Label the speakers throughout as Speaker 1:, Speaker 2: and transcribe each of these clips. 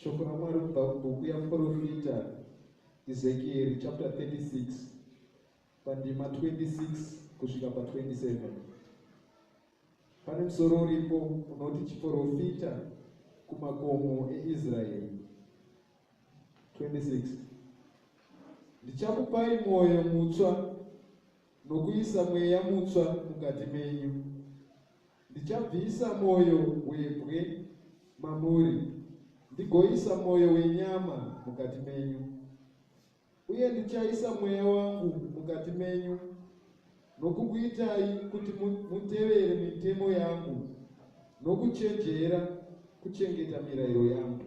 Speaker 1: shoko ramwari kubva kubhuku yamuprofita ezekieri chapter 36 pandima 26 kusvika pa27 pane musoro uripo unoti chiprofita kumakomo eisraeri 26 ndichakupai mwoyo mutswa nokuisa mweya mutswa mukati menyu Ndichabvisa mwoyo webwe mamuri, ndigoisa mwoyo wenyama mukati menyu, uye ndichaisa mweya wangu mukati menyu, nokukuitai kuti mutevere mitemo yangu, nokuchenjera kuchengeta mirayiro yangu.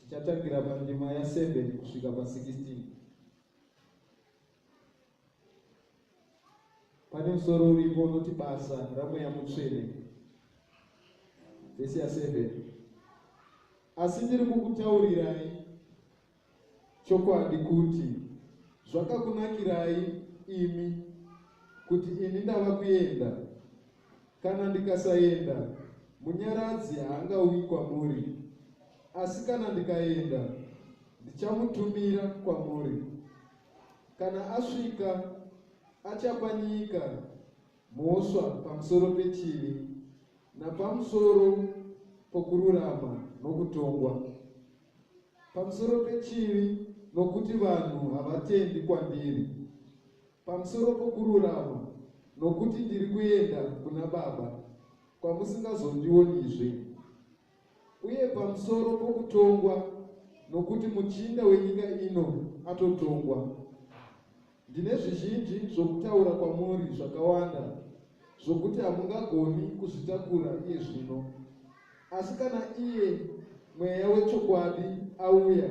Speaker 1: Tichatangira pandima ya 7 kusvika pa 16. Pane musoro uripo unoti basa ramweya mutsvene, vhesi ya 7. Asi ndiri kukutaurirai chokwadi kuti zvakakunakirai imi kuti ini ndava kuenda Kana ndikasaenda, Munyaradzi haangauyi kwamuri. Asi kana ndikaenda, ndichamutumira kwamuri. Kana asvika, achapa nyika mhosva pamusoro pechivi napamusoro pokururama nokutongwa, pamusoro pechivi nokuti vanhu havatendi kwandiri. Pamusoro pokururama, nokuti ndiri kuenda kuna Baba, kwamusingazondionizve, uye pamusoro pokutongwa, nokuti muchinda wenyika ino atotongwa. Ndine zvizhinji zvokutaura kwamuri zvakawanda zvokuti hamungagoni kuzvitakura iye zvino. Asi kana iye Mweya wechokwadi auya,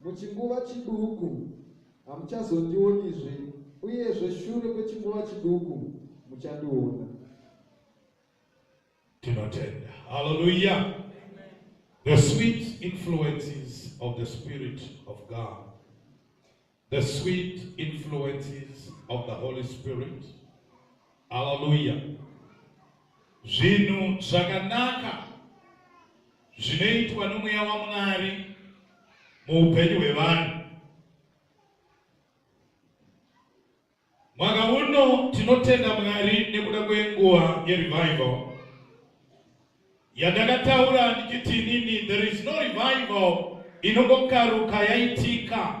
Speaker 1: Muchinguva chiduku hamuchazondionizve, uyezve shure kwechinguva chiduku muchandiona.
Speaker 2: Tinotenda. Hallelujah. The sweet influences of the Spirit of God, the sweet influences of the Holy Spirit. Hallelujah. Zvinhu zvakanaka zvinoitwa nomweya waMwari muupenyu hwevanhu. Mwaka uno tinotenda Mwari nekuda kwenguva yerevival yandakataura ndichiti inini there is no revival inongokaruka yaitika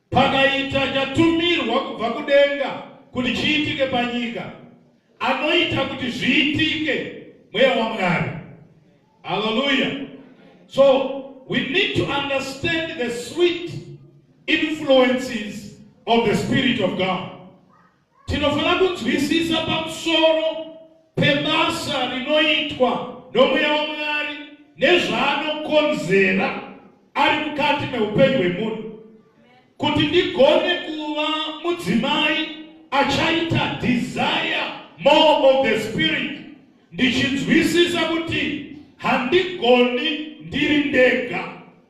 Speaker 2: Pakaita chatumirwa kubva kudenga kuti chiitike panyika, anoita kuti zviitike mweya waMwari. Hallelujah. So we need to understand the sweet influences of the Spirit of God. Tinofanira kunzwisisa pamusoro pebasa rinoitwa nomweya waMwari nezvaanokonzera ari mukati meupenyu hwemunhu kuti ndigone kuva mudzimai achaita desire more of the spirit ndichinzwisisa kuti handigoni ndiri ndega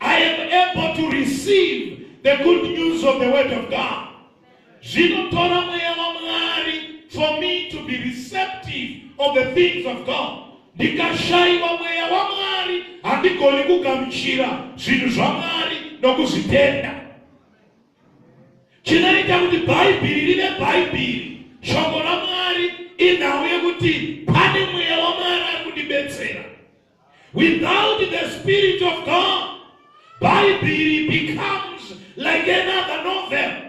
Speaker 2: I am able to receive the good news of the word of God. Zvinotora mweya waMwari for me to be receptive of the things of God. Ndikashaiwa mweya waMwari handigoni kugamuchira zvinhu zvaMwari nokuzvitenda. Chinoita kuti Bhaibheri rive Bhaibheri, shoko raMwari inhau yekuti pane mweya waMwari ari kundibetsera. Without the spirit of God, Bible becomes like another novel.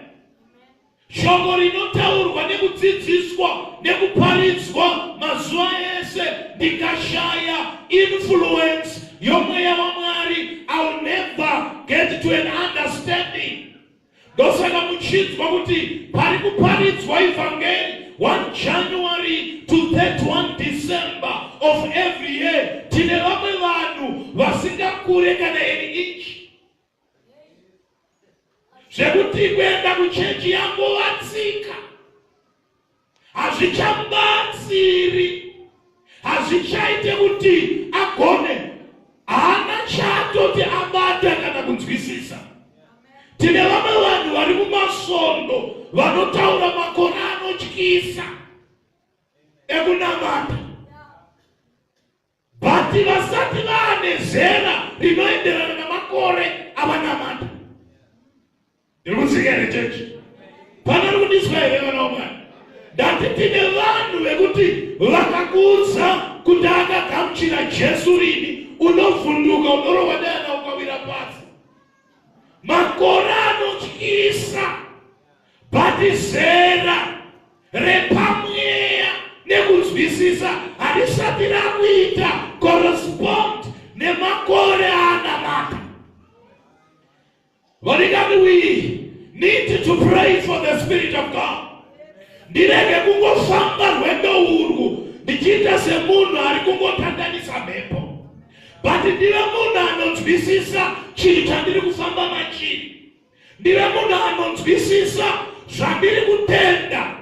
Speaker 2: Shoko rinotaurwa nekudzidziswa nekuparidzwa mazuva ese ndikashaya influence yomweya waMwari, I'll never get to an understanding. Ndosaka muchinzwa kuti pari kuparidzwa ivhangeri 1 January to 31 December of every year tine vamwe vanhu vasingakure kana iri inchi zvekuti kuenda kuchechi yangu vatsika hazvichabatsiri hazvichaite kuti agone haana chaatoti abata kana kunzwisisa tine vamwe vanhu vari mumasvondo vanotaura makore anotyisa ekunamata Vati vasati vane zera rinoenderana namakore avanamata. Ndiri kuziva here chechi? Pana ri kudiswa here vana wamwana? Ndati tine vanhu vekuti vakakuudza kuti akagamuchira Jesu rini, unovhunduka unorowa dana ukawira pasi. makore anotyisa bhati zera repamweya nekunzwisisa harisati rakuita correspond nemakore aanamata vadikani we need to pray for the spirit of god ndirege kungofamba rwendo urwu ndichiita semunhu ari kungotandanisa mhepo but ndive munhu anonzwisisa chinhu chandiri kufamba machiri ndive munhu anonzwisisa zvandiri kutenda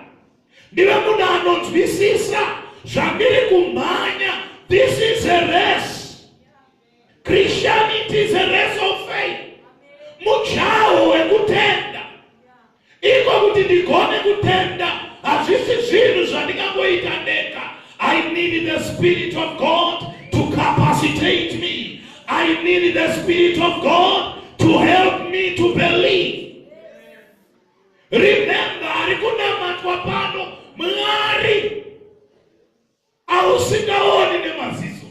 Speaker 2: ndive munhu anonzwisisa zvandiri kumhanya this is a race christianity is a race of faith mujaho wekutenda Iko kuti ndigone kutenda hazvisi zvinhu zvandingangoita ndega. I need the spirit of God to capacitate me. I need the spirit of God to help me to believe. Remember, ari kunamatwa pano Mwari ausingaoni nemaziso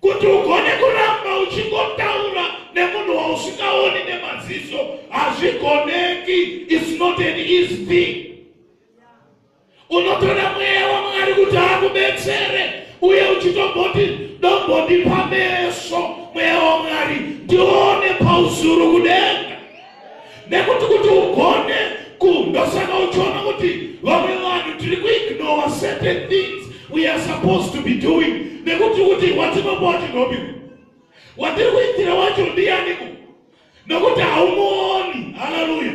Speaker 2: kuti ugone kuramba uchingotaura nemunhu wausingaoni nemaziso hazvigoneki its not an easy thing unotoda mweya wamwari kuti akubetsere uye uchitomboti ndombondipa meso mweya wamwari ndione pauzuru kudenga nekuti kuti ugone kundosaka uchiona kuti vamwe vanhu tiri kuignore certain things we are supposed to be doing nekuti kuti watinobowa tinobi watiri kuitira wacho ndiyaniko nokuti haumuoni haleluya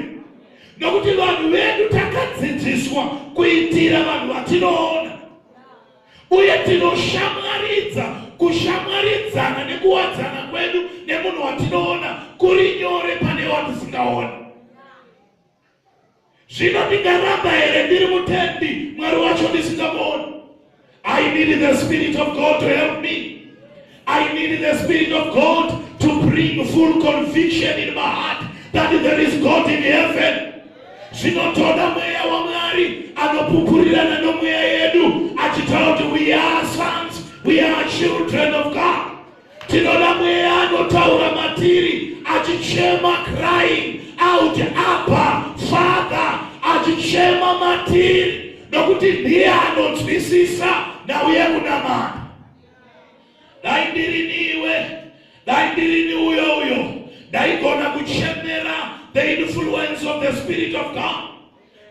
Speaker 2: nokuti vanhu vedu takadzidziswa kuitira vanhu vatinoona uye tinoshamwaridza kushamwaridzana nekuwadzana kwedu nemunhu watinoona kuri nyore pane watisingaoni zvino ndingaramba here ndiri mutendi mwari wacho ndisingamuoni i need the spirit of god to help me I need the Spirit of God to bring full conviction in my heart that there is God in heaven. zvinotoda mweya wamwari anopupurirana nomweya yedu achitaura kuti we are sons we are children of god tinoda mweya anotaura matiri achichema crying out apa father achichema matiri nokuti ndiye anonzwisisa nauye kunamana dai ndirini iwe dai ndirini uyo uyo ndaigona kuchemera the influence of the spirit of god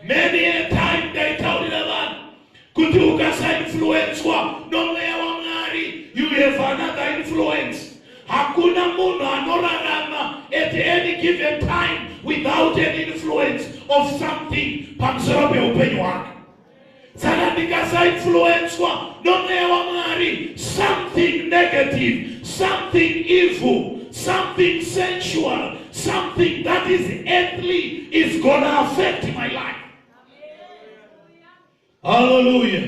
Speaker 2: many a time ndaitaurira vanhu kuti ukasainfluenswa nomweya wamwari you have another influence hakuna munhu anorarama at any given time without an influence of something pamusoro peupenyu hwake saka ndikasainfluenswa nomweya wamwari something negative something evil something sensual something that is earthly is gonna affect my life haleluya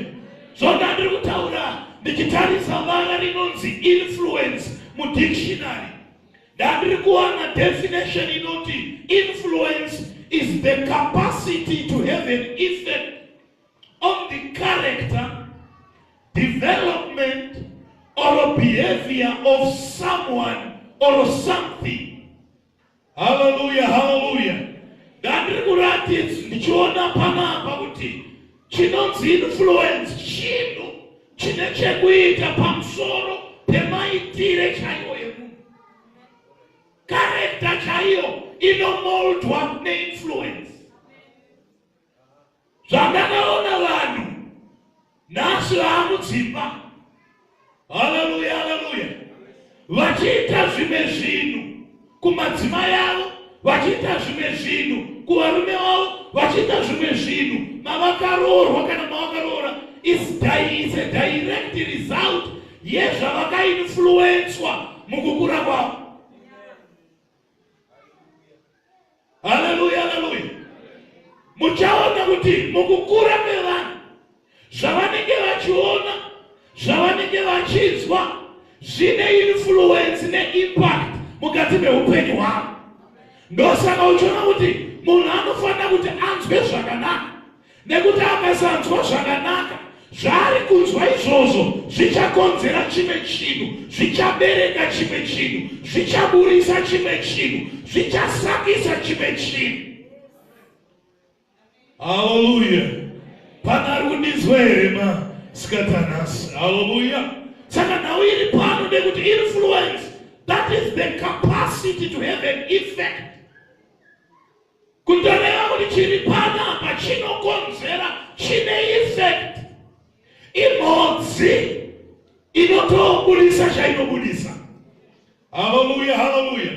Speaker 2: zvonda ndiri kutaura ndichitarisa vara rinonzi influence mudictionary Ndandiri kuwana definition inoti influence is the capacity to have an effect on the character, development or behavior of someone or something. Hallelujah, hallelujah. Ndandiri kuratidza ndichiona panapa kuti chinonzi influence chinhu chine chekuita pamusoro pemaitire chaiwo emunhu karekta chaiyo inomoldwa neinfluence zvandakaona vanhu nhasi vaamudzimba haleluya haleluya vachiita zvimwe zvinhu kumadzimai avo vachiita zvimwe zvinhu kuvarume vavo vachiita zvimwe zvinhu mavakaroorwa kana mavakaroora is a direct result yezvavakainfluenswa mukukura kwavo Haleluya, haleluya. Muchaona kuti mukukura kwevanhu zvavanenge vachiona, zvavanenge vachinzwa zvine influence neimpact mukati meupenyu hwavo. Ndosaka uchiona kuti munhu anofanira kuti anzwe zvakanaka Nekuti akasanzwa zvakanaka, zvaari kunzwa izvozvo zvichakonzera chimwe chinhu, zvichabereka chimwe chinhu, zvichaburisa chimwe chinhu, zvichasakisa chimwe chinhu. Haleluya! Pana ari kundinzwa here ma sikatanhasi? Haleluya! Saka nhau iri pano nekuti influence, that is the capacity to have an effect kutoreva kuti chiri panapa chinokonzera chine effect imhodzi inotobudisa chainobudisa haleluya haleluya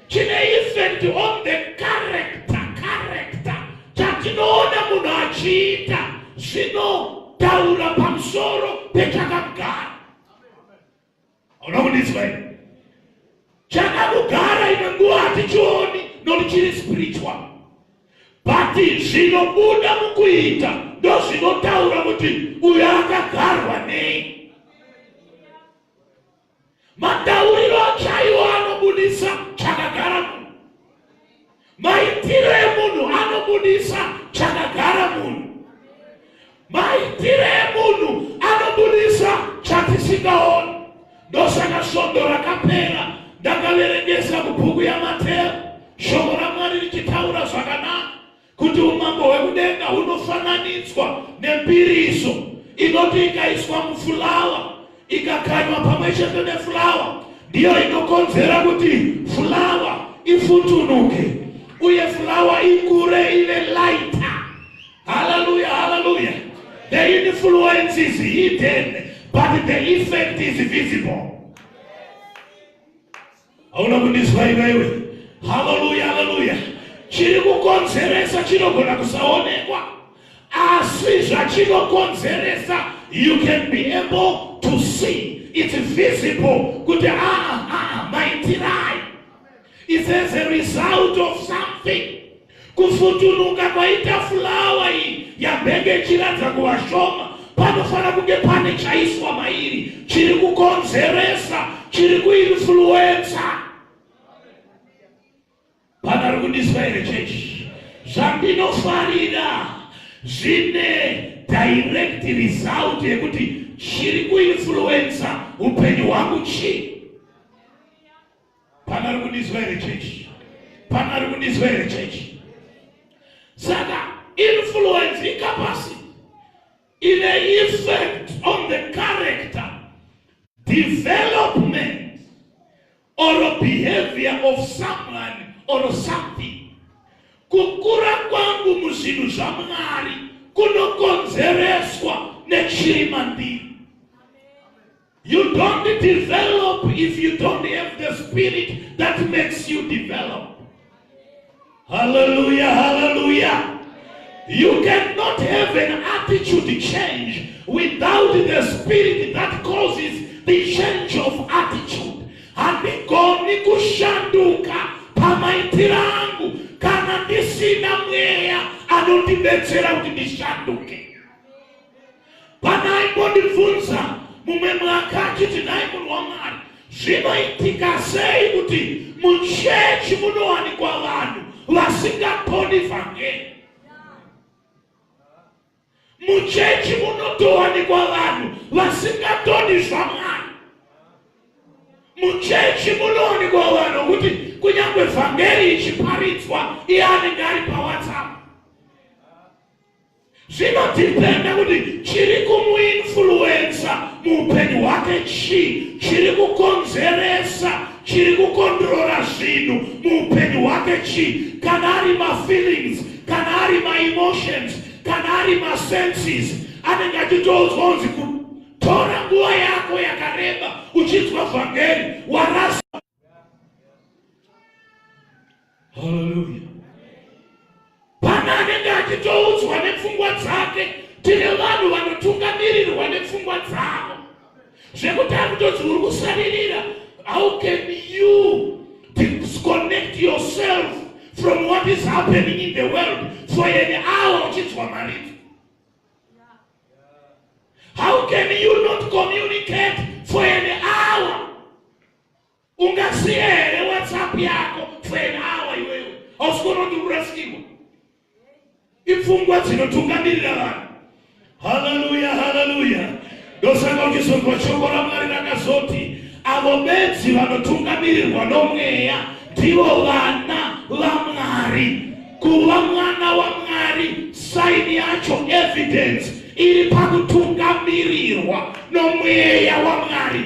Speaker 2: chine effect on the character character chatinoona munhu achiita zvinotaura pamusoro pechakamgara Hauna kundinzwa here? Chakakugara imwe nguva hatichioni nokuti chiri spiritual but zvinobuda mukuita ndozvinotaura kuti uyo akagarwa nei matauriro chaiwo anobudisa chakagara munhu Maitiro emunhu anobudisa chakagara munhu. Maitiro emunhu anobudisa chatisingaoni. Ndosaka svondo rakapera ndakaverengesa mubhuku yaMateo shoko raMwari richitaura zvakanaka kuti umambo hwekudenga hunofananidzwa nembiriso inoti ikaiswa mufulawa ikakanywa pamwe chete nefulawa ndiyo inokonzera kuti fulawa ifutunuke uye fulawa ikure ive laita haleluya haleluya the influence is hidden but the effect is visible Hauna kundizwa iwewe. Haleluya, haleluya. Chiri kukonzeresa chinogona kusaonekwa, asi zvachinokonzeresa you can be able to see it's visible kuti aa ah, ah, ah, maitirai. It's as a result of something. Kufutunuka kwaita fulawa iyi yambenge ichiratidza kuva shoma panofanira kunge pane chaiswa mairi chiri kukonzeresa chiri kuinfluensa panari kundiswa here chechi zvandinofarira zvine direct result yekuti chiri kuinfluensa upenyu hwangu chii Pana ari kundizwa here chechi? Pana ari kundizwa here chechi? Saka influence ikapasi ine effect on the character development or behavior of someone or something. Kukura kwangu muzvinhu zvaMwari kunokonzereswa nechiri mandiri. You don't develop if you don't have the spirit that makes you develop. Hallelujah, hallelujah. You cannot have an attitude change without the spirit that causes the change of attitude. Handigoni kushanduka pamaitiro angu kana ndisina mweya anondibetsera kuti ndishanduke. Pana aimbondibvunza mumwe mwaka achiti nhai munhu wamwari zvinoitika sei kuti muchechi munowanikwa vanhu vasingakoni vhangeri muchechi munotowanikwa vanhu vasingatoni zvamwari muchechi munowanikwa vanhu kuti kunyange vhangeri ichiparidzwa iye anenge ari pawhatsapp zvinodhipenda kuti chiri kumuinfluensa muupenyu hwake chii chiri kukonzeresa chiri kukondrora zvinhu muupenyu hwake chii kana ari mafeelings kana ari maemotions kana ari masenses anenge achitoudzwa unzi kutora nguva yako yakareba uchinzwa vhangeri warasa Haleluya. Pana anenge achitoudzwa nepfungwa dzake, tine vanhu vanotungamirirwa nepfungwa dzavo zvekuti akutodzi uri kusaririra. How can you disconnect yourself from what is happening in the world for an hour uchinzwa maridzo? How can you not communicate for an hour ungasiye here whatsapp yako for an hour iwewe hausi kuona kuti urasikirwa ipfungwa dzinotungamirira vanhu haleluya haleluya ndosaka uchizonzwa shoko ramwari rakazoti avo bedzi vanotungamirirwa nomweya ndivo vana vamwari kuva mwana wamwari saini yacho evidence iri pakutungamirirwa nomweya wamwari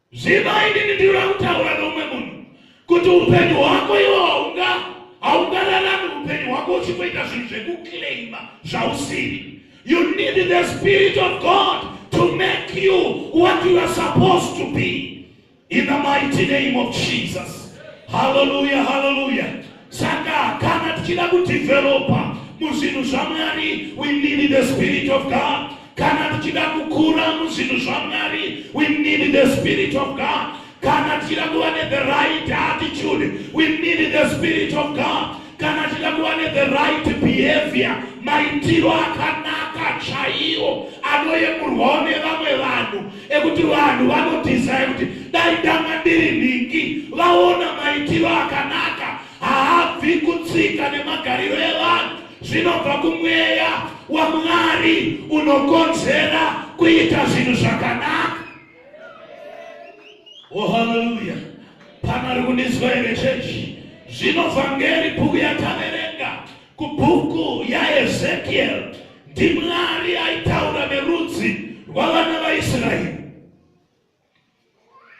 Speaker 2: Ziva inini ndiri kutaura nomwe munhu kuti upenyu hwako iwo haunga haungararami upenyu hwako uchingoita zvinhu zvekuclaima zvausiri you need the spirit of god to make you what you are supposed to be in the mighty name of jesus hallelujah hallelujah Saka kana tichida kudevelopa muzvinhu zvaMwari, we need the spirit of God. Kana tichida kukura muzvinhu zvaMwari, we need the spirit of God. Kana tichida kuva ne the right attitude, we need the spirit of God. Kana tichida kuva ne the right behavior, maitiro akanaka chaiwo anoyemurwawo nevamwe vanhu ekuti vanhu vanodhizaya kuti dai dama ndiri nhingi vaona maitiro akanaka haabvi kutsika nemagariro evanhu zvinobva kumweya wamwari unokonzera kuita zvinhu zvakanaka o oh, haleluya pana ri kundinzwa here chechi zvinobva ngeri bhuku yataverenga Kubhuku yaEzekiel ndiMwari aitaura nerudzi rwavana vaIsraeri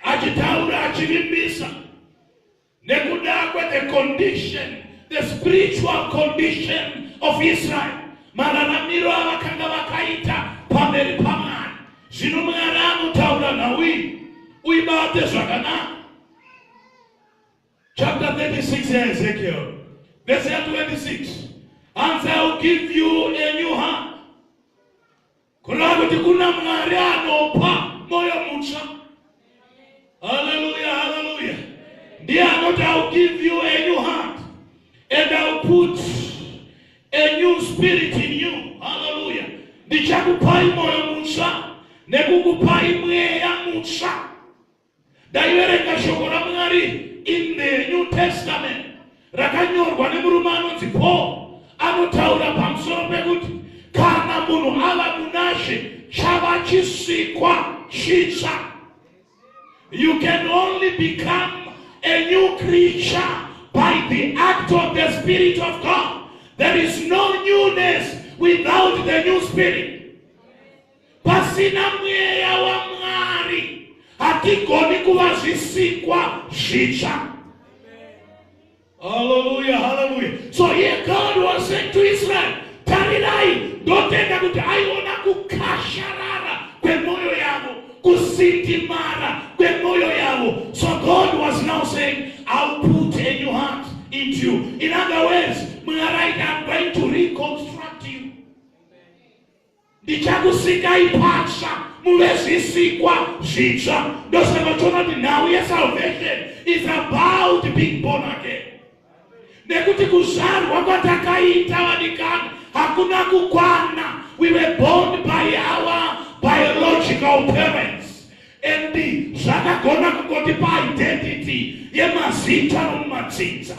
Speaker 2: achitaura achivimbisa nekuda kwethe condition the spiritual condition of Israel mararamiro avakanga vakaita pamberi pamwari zvino mwari anotaura nhau iyi uibate zvakanaka chapter 36 yaEzekiel verse ya 26 hanzi I will give you a new heart kureva kuti kuna mwari anopa moyo mutsva haleluya haleluya ndiye anoti I will give you a new heart and I will put a new spirit in you haleluya ndichakupai moyo mutsva nekukupai mweya mutsva Ndaiverenga shoko raMwari in the New Testament rakanyorwa nemurume anonzi Paul anotaura pamusoro pekuti kana munhu ava munashe chava chisikwa chitsva. You can only become a new creature by the act of the Spirit of God. There is no newness without the new spirit. Pasina mweya waMwari hatigoni kuva zvisikwa zvitsva. Hallelujah, hallelujah. So here God was saying to Israel, tarirai ndotenda kuti aiona kukasharara kwemoyo yavo kusindimara kwemoyo yavo so god was now saying ill put a new heart into you in other words mwari aita i'm going to reconstruct ndichakusikai patsva muve zvisikwa zvitsva ndosaka uchiona kuti nhau yesalvation is about being born again nekuti kuzvarwa kwatakaita vadikani hakuna kukwana we were born by our biological parents and zvakagona kungotipa identity yemazita nomumatsinza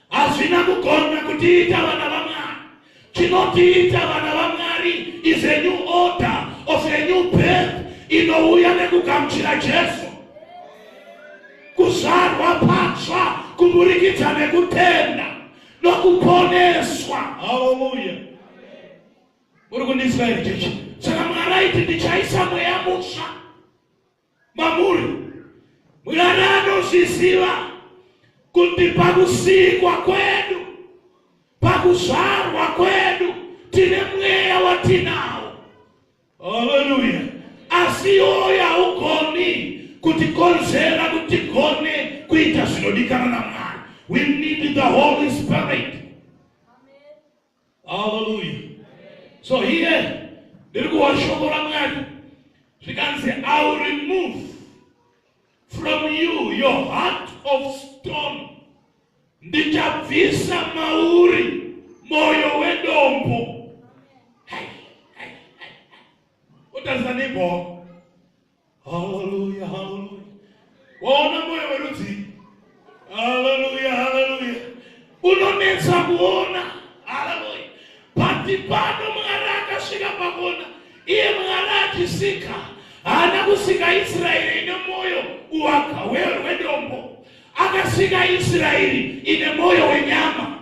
Speaker 2: hazvina kugona kutiita vana vamwari chinotiita vana vamwari is a new order of a new birth inouya nekugamuchira jesu kuzvarwa patsva kuburikidza nekutenda nokuponeswa haleluya uri kundinzwa here chechi saka mwari aiti ndichaisa mweya mutsva mamuri mwari anozviziva kuti pakusikwa kwedu pakuzvarwa kwedu tine mweya watinawo haleluya asi iwoyo haugoni kutikonzera kuti gone kuita zvinodikana namwari we need the holy spirit haleluya so here ndiri kuwa shoko ramwari zvikanzi iwill remove from you your heart of stone ndichabvisa mauri moyo wedombo otarisanipo Hallelujah, hallelujah. Waona moyo werudzii? Hallelujah, hallelujah. Unonetsa kuona. Hallelujah. Pati pano Mwari akasvika pakuona. Iye Mwari achisika. Haana kusika Israeri ine moyo uwaka wedombo. Akasika Israeri ine moyo wenyama,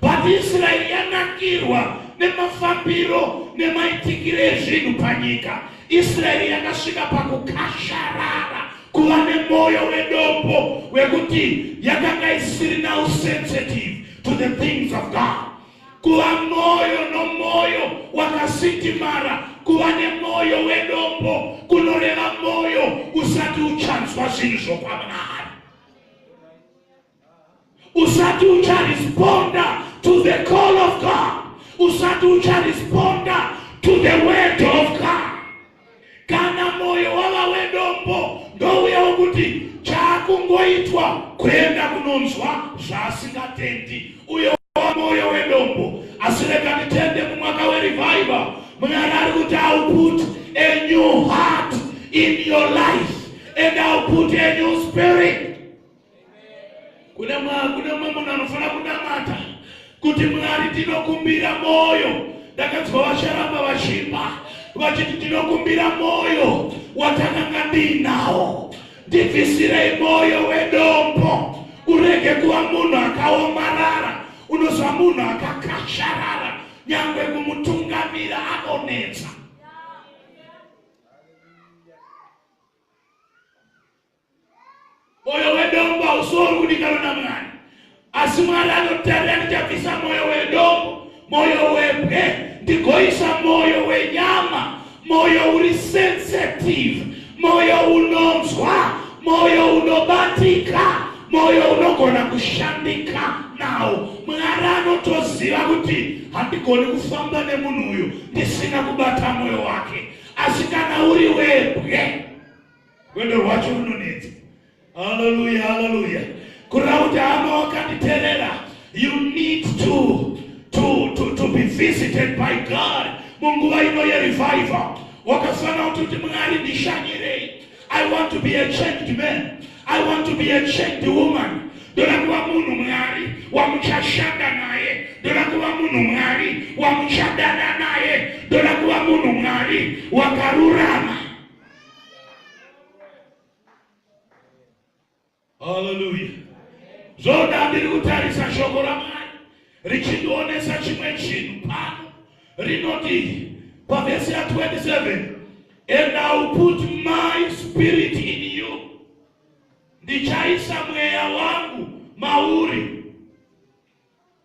Speaker 2: but Israeri yanakirwa nemafambiro nemaitikire ezvinhu panyika. Israeri yakasvika pakukasharara kuva nemoyo wedombo wekuti yakanga isirina usensitive to the things of God. kuva mwoyo nomwoyo wakasindimara kuva nemwoyo wedombo kunoreva mwoyo usati uchanzwa zvinhu zvokwamwari usati ucharesponda to the call of god usati ucharesponda to the word of god kana moyo wava wedombo ndouya wokuti chakungoitwa kuenda kunonzwa zvaasingatendi uyo wa moyo wedombo asi rega nditende mumwaka werevival mwari ari kuti ill put a new heart in your life and ill put a new spirit kuna mwa kuna mwa munhu anofanira kunamata kuti mwari tinokumbira moyo ndakanzwa vasharamba vachimba vachiti tinokumbira moyo watakanga ndiinawo ndibvisirei moyo wedombo urege kuva munhu akaomarara unozva munhu akakasharara nyangwe kumutungamira anonetsa Moyo wedombo hausori kudikanwa naMwari, asi Mwari anotarira ndichabvisa moyo wedombo, moyo webwe, ndigoisa moyo wenyama, moyo uri sensitive, moyo unonzwa, moyo unobatika, moyo unogona kushandika nawo. Mwari anotoziva kuti handigoni kufamba nemunhu uyu ndisina kubata moyo wake, asi kana uri webwe Rwendo rwacho runonetsa. Haleluya, haleluya. Kureva kuti hama wakanditerera, you need to to to to be visited by God munguva ino yerevival. Wakafanira kuti kuti Mwari ndishanyirei. I want to be a changed man. I want to be a changed woman. Ndoda kuva munhu Mwari wamuchashanda naye. Ndoda kuva munhu Mwari wamuchadana naye. Ndoda kuva munhu Mwari wakarurama. haleluya zvoda ndiri kutarisa shoko ramwari richindionesa chimwe chinhu pano rinoti pavhesi ya 27 and ill put my spirit in you ndichaisa mweya wangu mauri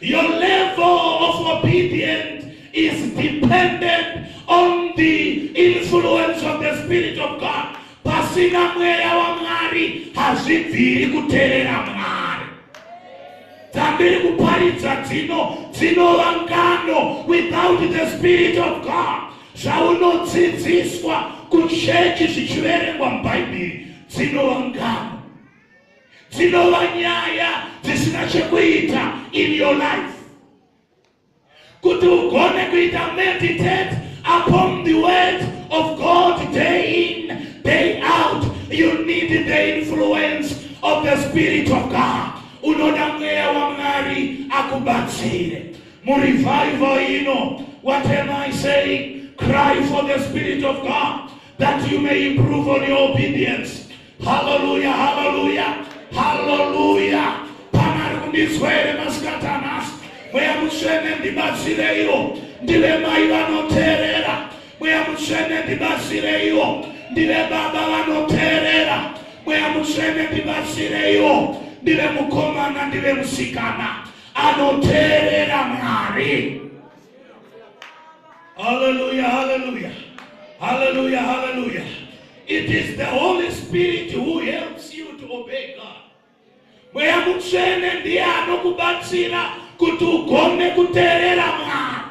Speaker 2: Your level of obedience is dependent on the influence of the Spirit of God. Pasina mweya waMwari hazvibviri kuterera Mwari. Dzambiri kuparidza dzino dzinova ngano without the Spirit of God. Zvaunodzidziswa kuchechi zvichiverengwa mubhaibheri dzinova ngano. dzinova nyaya dzisina chekuita in your life kuti ugone kuita meditate upon the word of god day in day out you need the influence of the spirit of god unoda mweya wamwari akubatsire murevival ino what am i saying cry for the spirit of god that you may improve on your obedience Haleluya, haleluya, haleluya. Pana ari kundinzwa here masikati anhasi? Mweya Mutsvene ndibatsireiwo, ndive mai vanoteerera. Mweya Mutsvene ndibatsireiwo, ndive baba vanoteerera. Mweya Mutsvene ndibatsireiwo, ndive mukomana, ndive musikana anoteerera Mwari. Hallelujah, hallelujah. Hallelujah, hallelujah. It is the Holy Spirit who helps you to obey God. Mweya mutsvene ndiye anokubatsira kuti ugone kuteerera Mwari.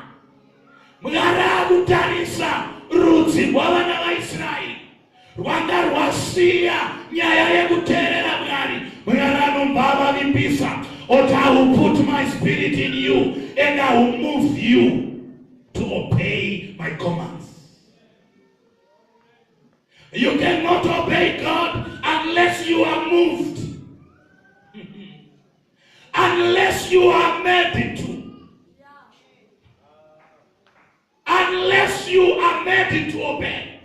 Speaker 2: Mwari akutarisa rudzi rwavana vaIsraeri. rwanga rwasiya nyaya yekuteerera mwari mwari anobva avavimbisa oti i will put my spirit in you and i will move you to obey my commands you cannot obey god unless you are moved unless you are made to unless you are made to obey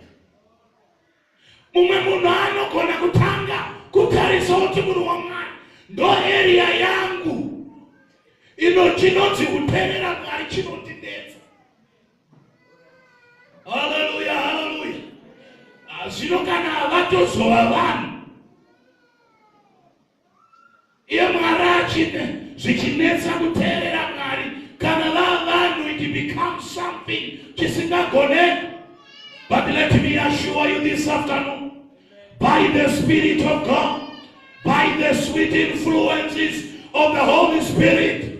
Speaker 2: mumwe munhu anogona kutanga kutarisa kuti munhu wamwari ndo eriya yangu ino chinonzi kuterera mwari chinondinetsa haleluya haleluya ah, zvino kana vatozova vanhu iye mwari achine zvichinetsa kuteerera mwari kana vavanhu it becomes something chisingagone but let me assure you this afternoon by the spirit of god by the sweet influences of the holy spirit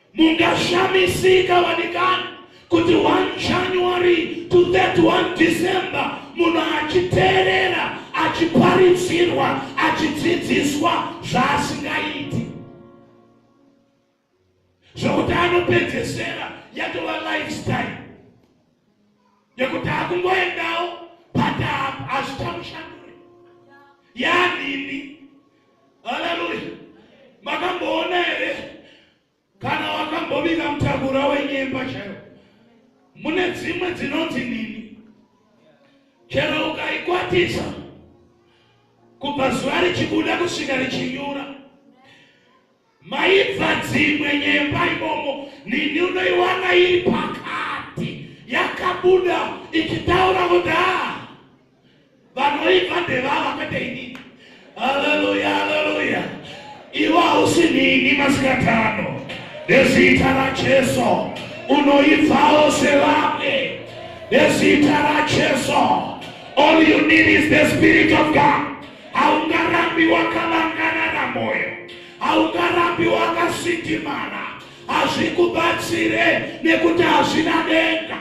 Speaker 2: Mungashamisika vanikani kuti 1 January to 31 December munhu achiteerera achiparidzirwa achidzidziswa zvaasingaiti zvokuti anopedzesera yatova lifestyle nekuti akungoendawo but hazvichamushandure yanini haleluya makamboona here kana wakambobika mutakura wenyemba chero mune dzimwe dzinonzi nini chero ukaikwatisa kubva zuva richibuda kusvika richinyura Maibva dzimwe nyemba imomo nini unoiwana iri pakati yakabuda ichitaura kuti haa vanoibva ndevava kwete inini. Haleluya, haleluya. Iwe hausi nini masikatano nezita raJesu unoibvawo sevamwe nezita raJesu. All you need is the spirit of God. haungarambi wakavangarara moyo haungarambi wakasitimana hazvikubatsire nekuti hazvina denga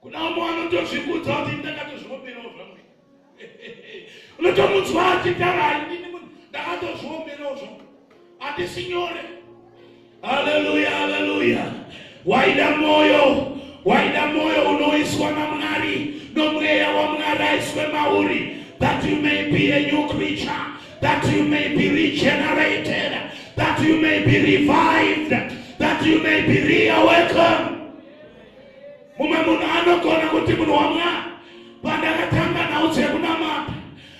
Speaker 2: kuna umwe vanotozvikudza kuti ndakatozviomerawo zvangu unotomunzwa achitaura ndakatozviomerawo zvangu handisi nyore Haleluya, haleluya. Waida moyo, waida moyo unoiswa na Mwari, nomweya wa Mwari aiswe mauri, that you may be a new creature, that you may be regenerated, that you may be revived, that you may be reawakened. Mumwe munhu anogona kuti munhu wa Mwari, pandakatanga nhau dzekunamata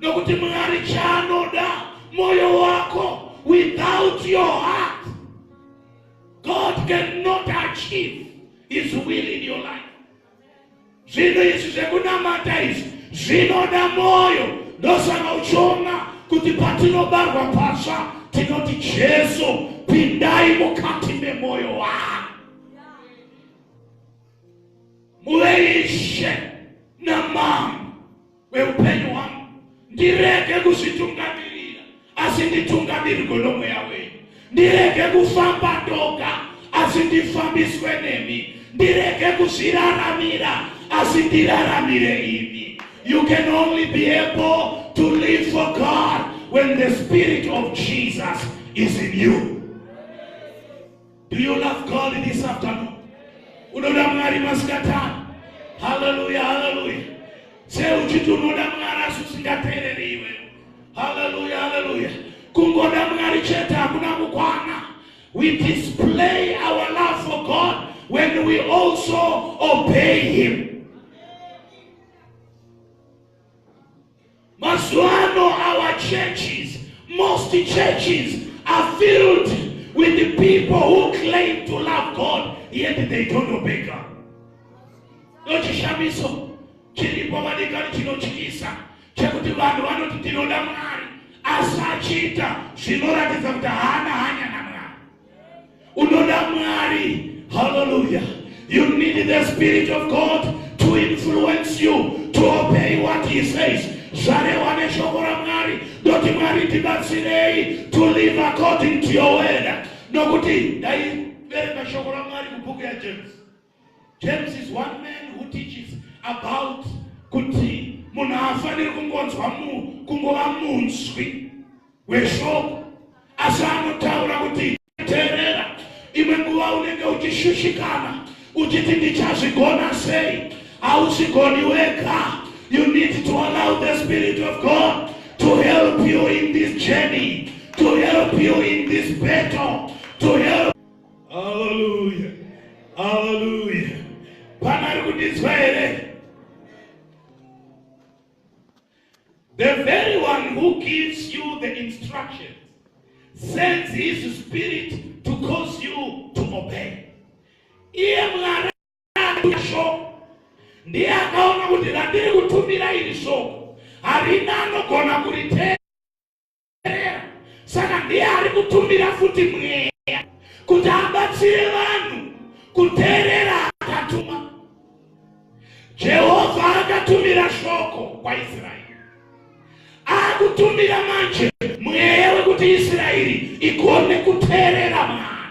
Speaker 2: Nokuti Mwari chaanoda moyo wako without your heart God cannot achieve his will in your life. Zvinhu izvi zvekunamata izvi zvinoda moyo ndosaka uchiona kuti patinobarwa pasva tinoti Jesu pindai mukati memoyo wangu muve ishe namambo kweupenyu hwangu ndirege kuzvitungamirira asi nditungamirirwe nomweya wenyu ndirege kufamba ndoga asi ndifambiswe nemi ndirege kuzviraramira asi ndiraramire imi you can only be able to live for god when the spirit of jesus is in you Do you love God this afternoon? Unoda Mwari masikati ano? Hallelujah, hallelujah. Sei uchiti unoda Mwari asi usingateereri iwe? Hallelujah, hallelujah. Kungoda Mwari chete hakuna kukwana. We display our love for God when we also obey him. Mazuano our churches, most churches are filled with the people who claim to love God yet they don't obey God. Ndochishamiso chiripo madikani chinotyisa chekuti vanhu vanoti tinoda Mwari asi achiita zvinoratidza kuti haana hanya naMwari. Unoda Mwari. Hallelujah. You need the Spirit of God to influence you to obey what he says. Zvarewa neshoko raMwari ndoti Mwari tibatsirei to live according to your word. Nokuti dai verenga shoko raMwari mubhuku yaJames. James is one man who teaches about kuti munhu haafaniri kungonzwa munhu kungova munzwi weshoko asi anotaura kuti teerera imwe nguva unenge uchishushikana uchiti ndichazvigona sei hausigoni wega you need to allow the spirit of god to help you in this journey to help you in this battle to help Hallelujah. Hallelujah. Pana ari kundinzwa here? The very one who gives you the instructions sends his spirit to cause you to obey. Iye Mwari shoko ndiye akaona kuti randiri kutumira iri shoko harina anogona kuritenda kuperera saka ndiye ari kutumira futi mweya kuti abatsire vanhu kuteerera akatuma jehovha akatumira shoko kwaisraeri akutumira manje mweya wekuti israeri igone kuteerera mwana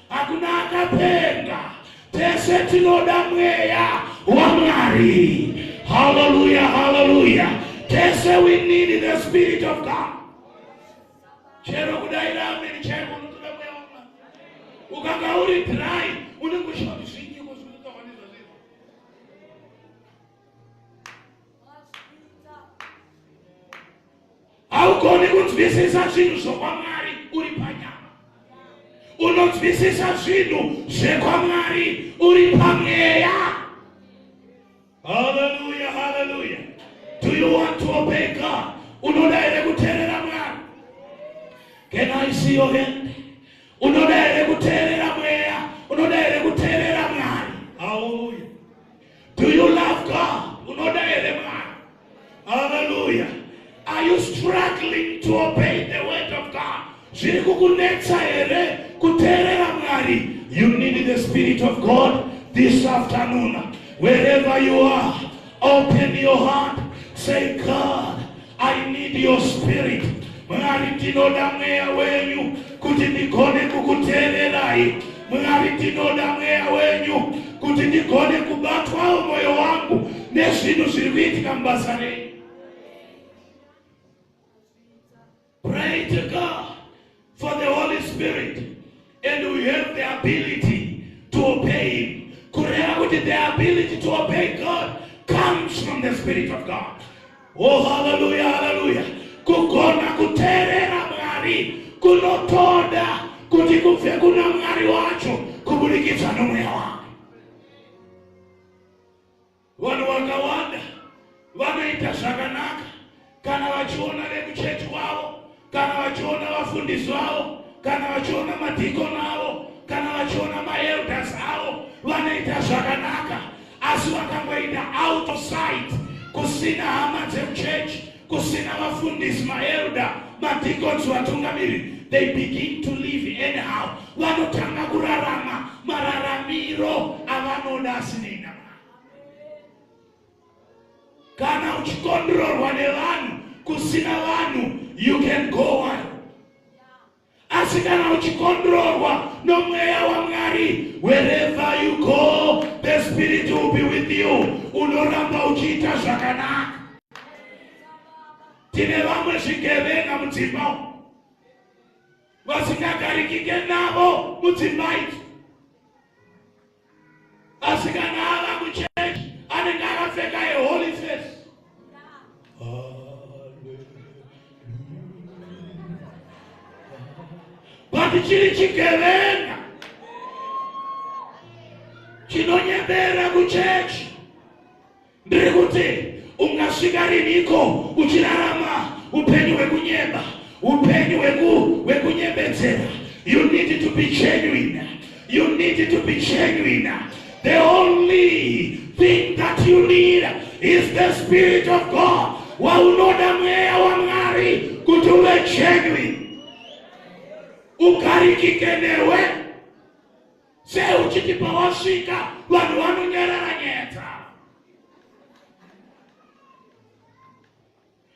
Speaker 2: Hakuna akapenga, tese tinoda mweya waMwari. Haleluya, haleluya. Tese we need the spirit of God. Chero kudaira ameni chaiko unotoda mweya waMwari. Ukanga uri dry, unenge uchida kuti zvinyi kuzvinotaura nezvazviri. haugoni kunzwisisa zvinhu zvokwamwari uri panyama unonzwisisa zvinhu zvekwamwari uri pamweya haleluya haleluya do you want to obey god unoda here kuteerera mwari can i see your hand unoda here kuteerera mweya unoda here kuteerera mwari haleluya do you love god unoda here Hallelujah. Are you struggling to obey the word of God? Zviri kukunetsa here kuteerera Mwari? You need the spirit of God this afternoon. Wherever you are, open your heart. Say, God, I need your spirit. Mwari ndinoda mweya wenyu kuti ndigone kukuteererai. Mwari, ndinoda mweya wenyu kuti ndigone kubatwawo mwoyo wangu nezvinhu zviri kuitika mubasa renyu. Pray to God for the Holy Spirit and we have the ability to obey him. Kureva kuti the ability to obey God comes from the Spirit of God. Oh, haleluya, haleluya. Kugona kuteerera Mwari kunotoda kuti kubve kuna Mwari wacho kuburikidza nomweya wake. Vanhu vakawanda vanoita zvakanaka kana vachiona vekuchechi kwavo kana vachiona vafundisi vavo kana vachiona madhikoni avo kana vachiona maelders avo vanoita zvakanaka asi vakangoita out of sight kusina hama dzemuchurch kusina vafundisi maelder madhikons vatungamiri they begin to live anyhow vanotanga kurarama mararamiro avanoda asinei kana uchikondrorwa nevanhu kusina vanhu you can go on asi kana uchikondrorwa nomweya wamwari wherever you go the spirit will be with you unoramba uchiita zvakanaka tine vamwe zvigevenga mudzimba vasingagarikike navo mudzimba idzi asi kana ava muchechi anenge akapfeka yeholy face but chiri chigevenga chinonyebera kuchechi ndiri kuti ungasvika riniko uchirarama upenyu hwekunyeba upenyu hwekunyebedzera you need to be genuine you need to be genuine the only thing that you need is the spirit of god waunoda mweya wamwari kuti uve genuine ukarikike newe sei uchiti pawasvika vanhu vanonyarara nyaya dzavo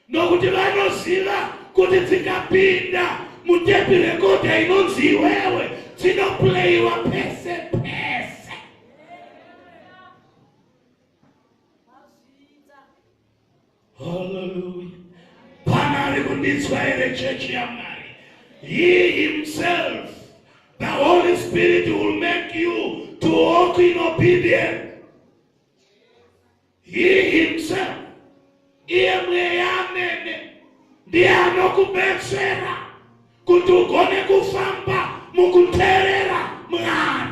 Speaker 2: nokuti vanoziva kuti dzikapinda mutepi rekodha inonzi iwewe dzinopuleyiwa pese pese Hallelujah. Pana ari kundinzwa here chechi yaMwari? He himself, the Holy Spirit will make you to walk in obedience. He himself, iye mweya amene ndiye anokubetsera kuti ugone kufamba mukuteerera Mwari.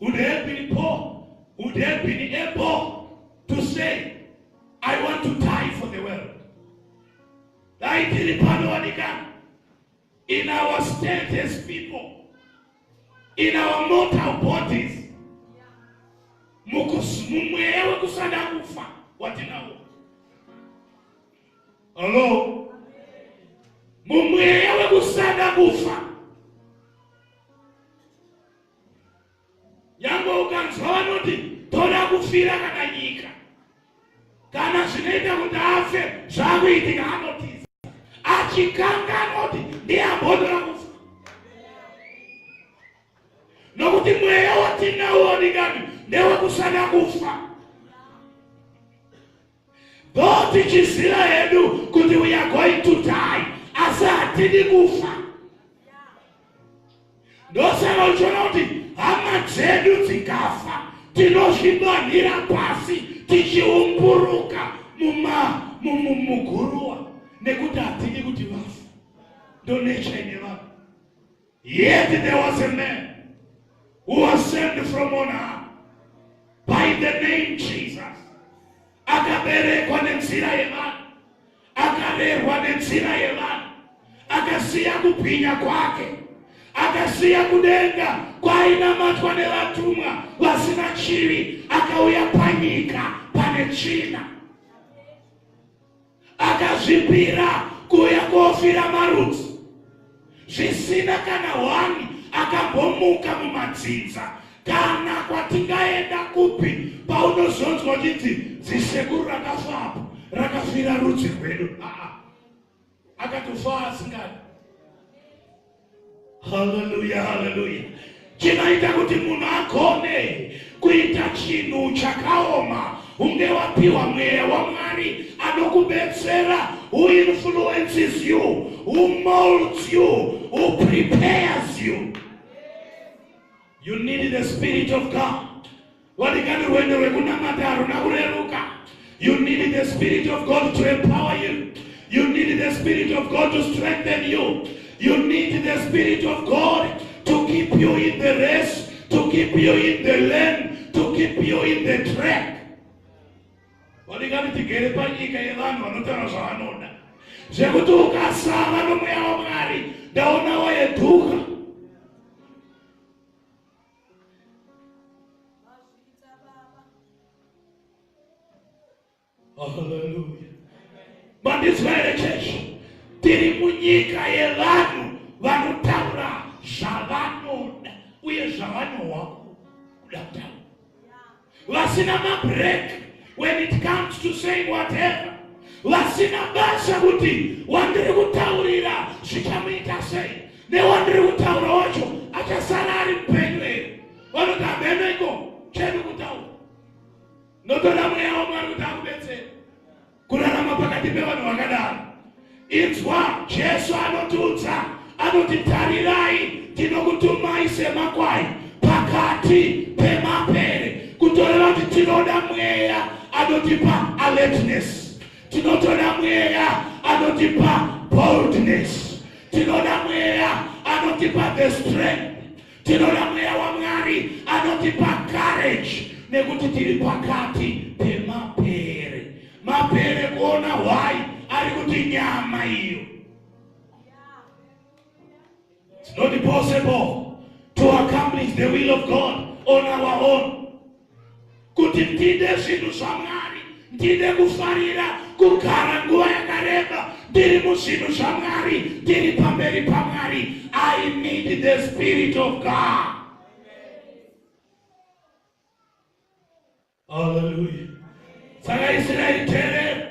Speaker 2: Would have been poor, would have been able to say, I want to die for the world. Daitiri panowanika in our state as people, in our mortal bodies, mumweya wekusada kufa watinawo. Hello? Mumweya wekusada kufa nyangwe ukanzwa vanoti toda kufira kana nyika kana zvinoita kuti afe zvakuitika anotiza achikanga anoti ndiye ambotora kufa nokuti mweya watinawo ndikani ndewekusada kufa Go tichiziva hedu kuti we are going to die asi hatidi kufa ndosaka uchiona kuti hama dzedu dzikafa tinozvidonhira pasi tichiumburuka muguruwa nekuti hatidi kuti vafa ndonecha ine vanhu Yet there was a man who was sent from on high by the name Jesus. Akaberekwa nenzira yevanhu, akarerwa nenzira yevanhu, akasiya kubwinya kwake, akasiya kudenga kwainamatwa nevatumwa vasina chivi, akauya panyika pane tsvina. akazvipira kuuya kofira marudzi zvisina kana hwani akambomuka mumadzinza kana kwatingaenda kupi paunozonzwa chiti dzisekuru rakafapo rakafira rudzi rwedu aa akatofa asingadi Haleluya, haleluya. Chinoita kuti munhu agone kuita chinhu chakaoma unge wapiwa mweya wamwari anokubetsera who influences you who molds you who prepares you you need the spirit of god Vadikani, rwendo rwekunamata haruna kureruka. You need the spirit of God to empower you. You need the spirit of God to strengthen you. You need the spirit of God to keep you in the race, to keep you in the lane, to keep you in the track. Vadikani, tigere panyika yevanhu vanotaura zvavanoda zvekuti ukasava nomweya wamwari ndaonawo yeduka mandinzwa here chechi tiri munyika yevanhu vanotaura zvavanoda uye zvavanohwa kuda kutaura vasina mabreak when it comes to saying whatever vasina basa kuti wandiri kutaurira zvichamuita sei newandiri kutaura wacho achasara ari mupenyu here vanoti hamenoiko chedu kutaura notoda mweya wamwari kuti akubetsera kurarama pakati pevanhu vakadaro inzwa jesu anotiudza anoti tarirai tinokutumai semakwai pakati pemapere kutoreva kuti tinoda mweya anotipa alertness tinotoda mweya anotipa boldness tinoda mweya anotipa the strength Tinoda mweya waMwari anotipa courage nekuti tiri pakati pemapere. Mapere kuona hwai ari kuti nyama iyo. It's not possible to accomplish the will of God on our own. kuti ndide zvinhu zvamwari ndide kufarira kugara nguva yakareba ndiri muzvinhu zvamwari ndiri pamberi pamwari i need the spirit of god haleluya saka israeri terera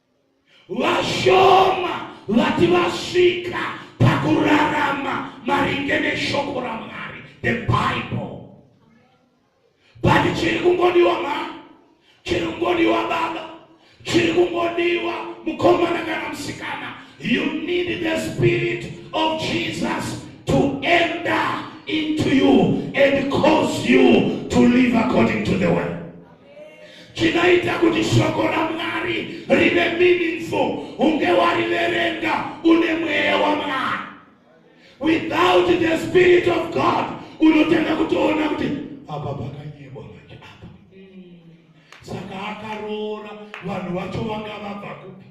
Speaker 2: Vashoma vati vasvika pakurarama maringe neshoko raMwari, the Bible. But chiri kungodiwa ma, chiri kungodiwa baba, chiri kungodiwa mukomana kana musikana. You need the spirit of Jesus to enter into you and cause you to live according to the word. chinoita kuti shoko ramwari rive meaningful unge wariverenga une mweya wamwari without the spirit of god unotanga kutoona kuti apa pakanyebwa manje apa saka akaroora vanhu vacho vanga vabva kupi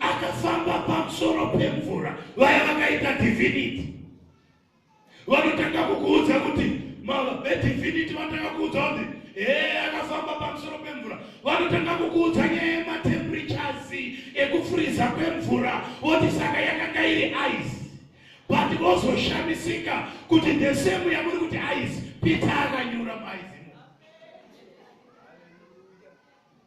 Speaker 2: akafamba pamusoro pemvura vaya vakaita divinity vanotanga kukuudza kuti vediviniti vanotanga kuudza kuti ee akafamba pamusoro pemvura vanotanga kukuudza nyaya yematemperatures ekufuriza kwemvura voti saka yakanga iri ice but vozoshamisika kuti the same yamuri kuti ice pita akanyura maizi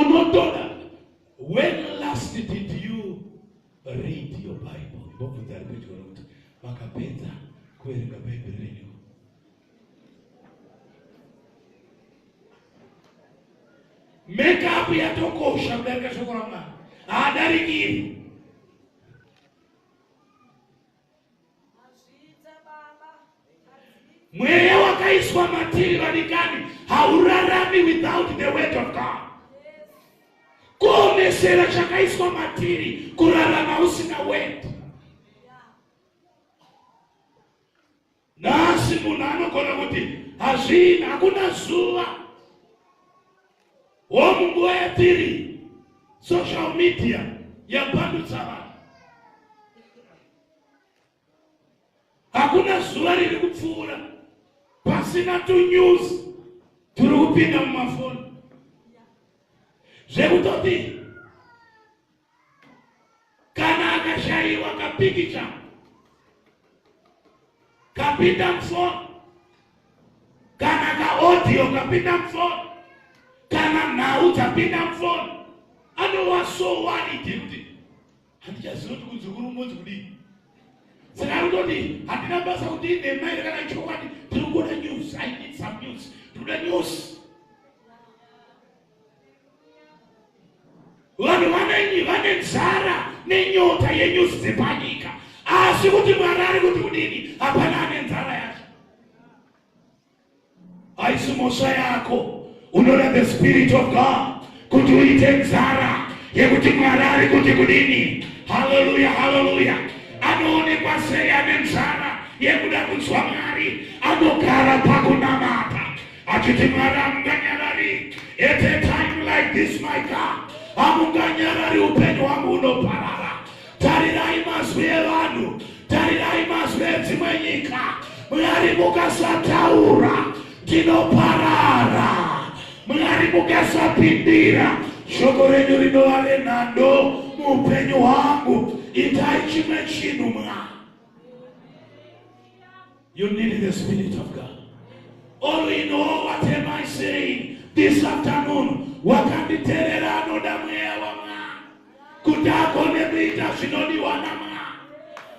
Speaker 2: unotoda when last did you read your bible ndobvunza ari pedyo nokuti makapedza kuverenga bhaibheri renyu makeup yatokosha kudarika shoko ramwari haadarikiri mweya wakaiswa matiri vadikani haurarami without the word of god kuomesera chakaiswa matiri kurarama usina word Nhasi munhu anogona kuti hazvii, hakuna zuva homu nguva yatiri social media yapandutsa vanhu. Hakuna zuva riri kupfuura pasina tunews turi kupinda mumafoni zvekutoti kana akashaiwa kapikicha kapinda mufoni kana kaodiyo kapinda mufoni kana nhau dzapinda mufoni anowasowanidi kuti handichaziva kuti kudzukuru ungonzi kudii saka anototi handina basa kuti inhema iri kana chokwadi tiri kuona news i need some news tinoda news vanhu vanenyi vane nzara nenyota yenyuzi dzepanyika asi kuti mwari ari kuti kudini hapana ane nzara yacho haisi mhosva yako unoda the spirit of god kuti uite nzara yekuti mwari ari kuti kudini haleluya haleluya anoonekwa sei ane nzara yekuda kunzwa mwari anogara pakunamata achiti mwari hamunganyarari at a time like this my god hamunganyarari upenyu hwangu hunoparara tarirai mazwi evanhu tarirai mazwi edzimwe nyika mwari mukasataura tinoparara mwari mukasapindira shoko renyu rinova renhando muupenyu hwangu itai chimwe chinhu mwari You need the spirit of God. All in all, what am I saying this afternoon? Wakanditerera anoda mweya wamwana kuti agone kuita zvinodiwa namwana.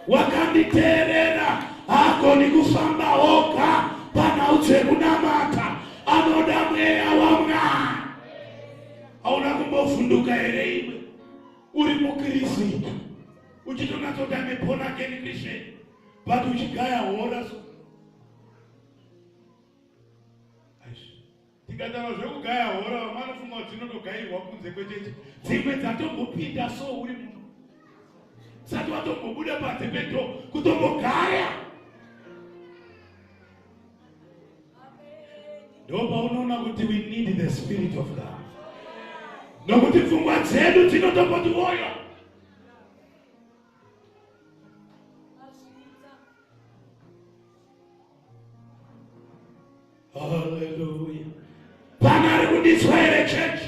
Speaker 2: Wakanditerera haagoni kufamba oga panhau dzekunamata, anoda mweya wamwana. Hauna kumbovhunduka here iwe uri mukristu uchitonatsotame born again Christian? but uchigaya hora so tikataura zvekugaya hora vamwe vanofunga kuti dzinotogairwa kunze kwecheche dzimwe dzatombopinda so uri muno sati watombobuda panze pedo kutombogaya ndopaunoona kuti we need the spirit of god nokuti pfungwa dzedu dzinotomboti woyo Hallelujah. Pana ari kudiswa here church?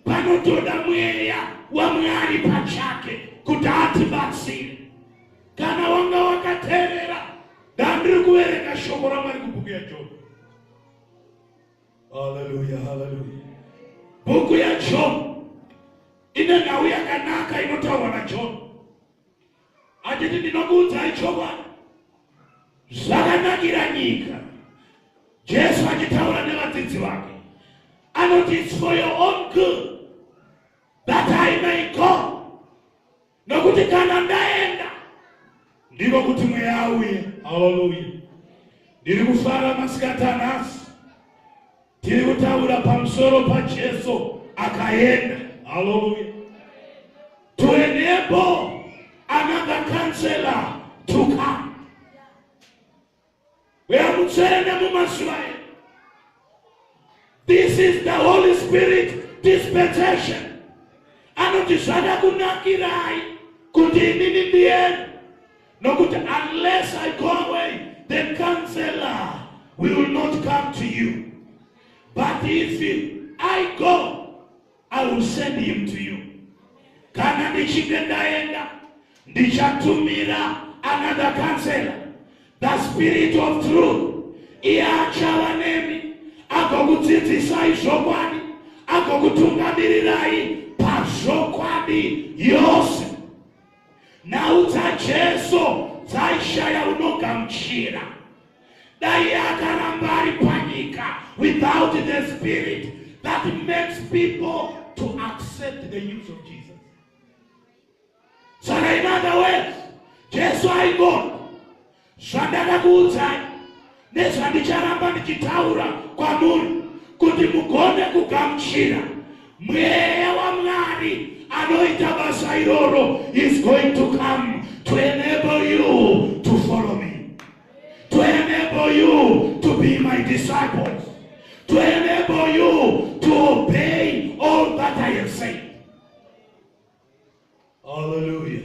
Speaker 2: Panotoda mweya waMwari pachake kuti atibatsire. Kana wanga wakaterera, ndandiri kuverenga shoko raMwari kubhuku yaJobe. Haleluya, haleluya. Bhuku ya John ine nhau yakanaka inotaurwa na John. Atiti ndinokuudzai chokwadi. Zvakanakira nyika. Jesu achitaura nevadzidzi vake. Anoti it's for your own good that I may go. nokuti kana ndaenda ndiro kuti mweya auye haleluya ndiri kufara masikati anhasi tiri kutaura pamusoro pajesu akaenda haleluya to enable another counselor to come Mweya Mutsvene mumazuva edu. This is the Holy Spirit dispensation. Anoti zvada kunakirai kuti inini ndiyeni nokuti unless I go away the counselor will not come to you. But if I go I will send him to you. Kana ndichinge ndaenda ndichatumira another counselor the spirit of truth iye achava nemi agokudzidzisai zvokwadi agokutungamirirai pazvokwadi yose nhau dzajesu dzaishaya unogamuchira dai akaramba ari panyika without the spirit that makes people to accept the news of jesus saka in other words jesu aigona zvandakakuudzai nezvandicharamba ndichitaura kwamuri kuti mugone kugamuchira mweya wamwari anoita basa iroro is going to come to enable you to follow me to enable you to be my disciples to enable you to obey all that i have said Hallelujah.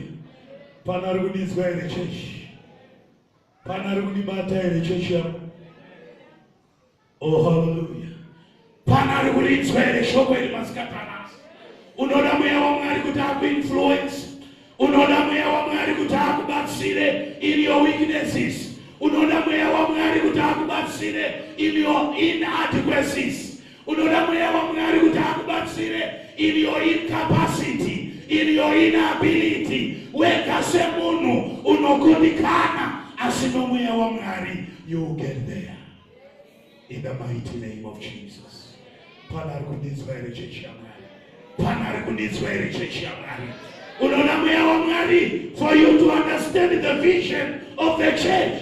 Speaker 2: Pana ari kudinzwa here chechi? Pana ari kudibata here chechi yako? Oh, hallelujah. Pana ari kudinzwa here shoko iri masikatana? Unoda mweya waMwari kuti akuinfluence. Unoda mweya waMwari kuti akubatsire in your weaknesses. Unoda mweya waMwari kuti akubatsire in your inadequacies. Unoda mweya waMwari kuti akubatsire in your incapacity, in your inability. Wega semunhu unokundikana asi nomweya waMwari you will get there. In the mighty name of Jesus. Pana ari kundinzwa here chechi yaMwari? Pana ari kundinzwa here chechi yaMwari? Unoda mweya waMwari for you to understand the vision of the church.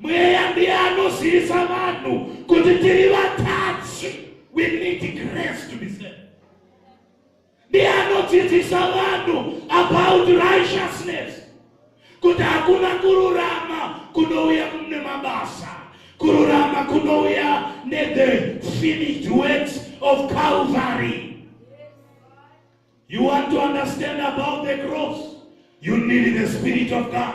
Speaker 2: Mweya ndiye anozivisa vanhu kuti tiri vatadzi. We need grace to be saved. Ndiye anodzidzisa vanhu about righteousness kuti hakuna kururama kunouya nemabasa kururama kunouya nethe finished works of calvary you want to understand about the cross you need the spirit of god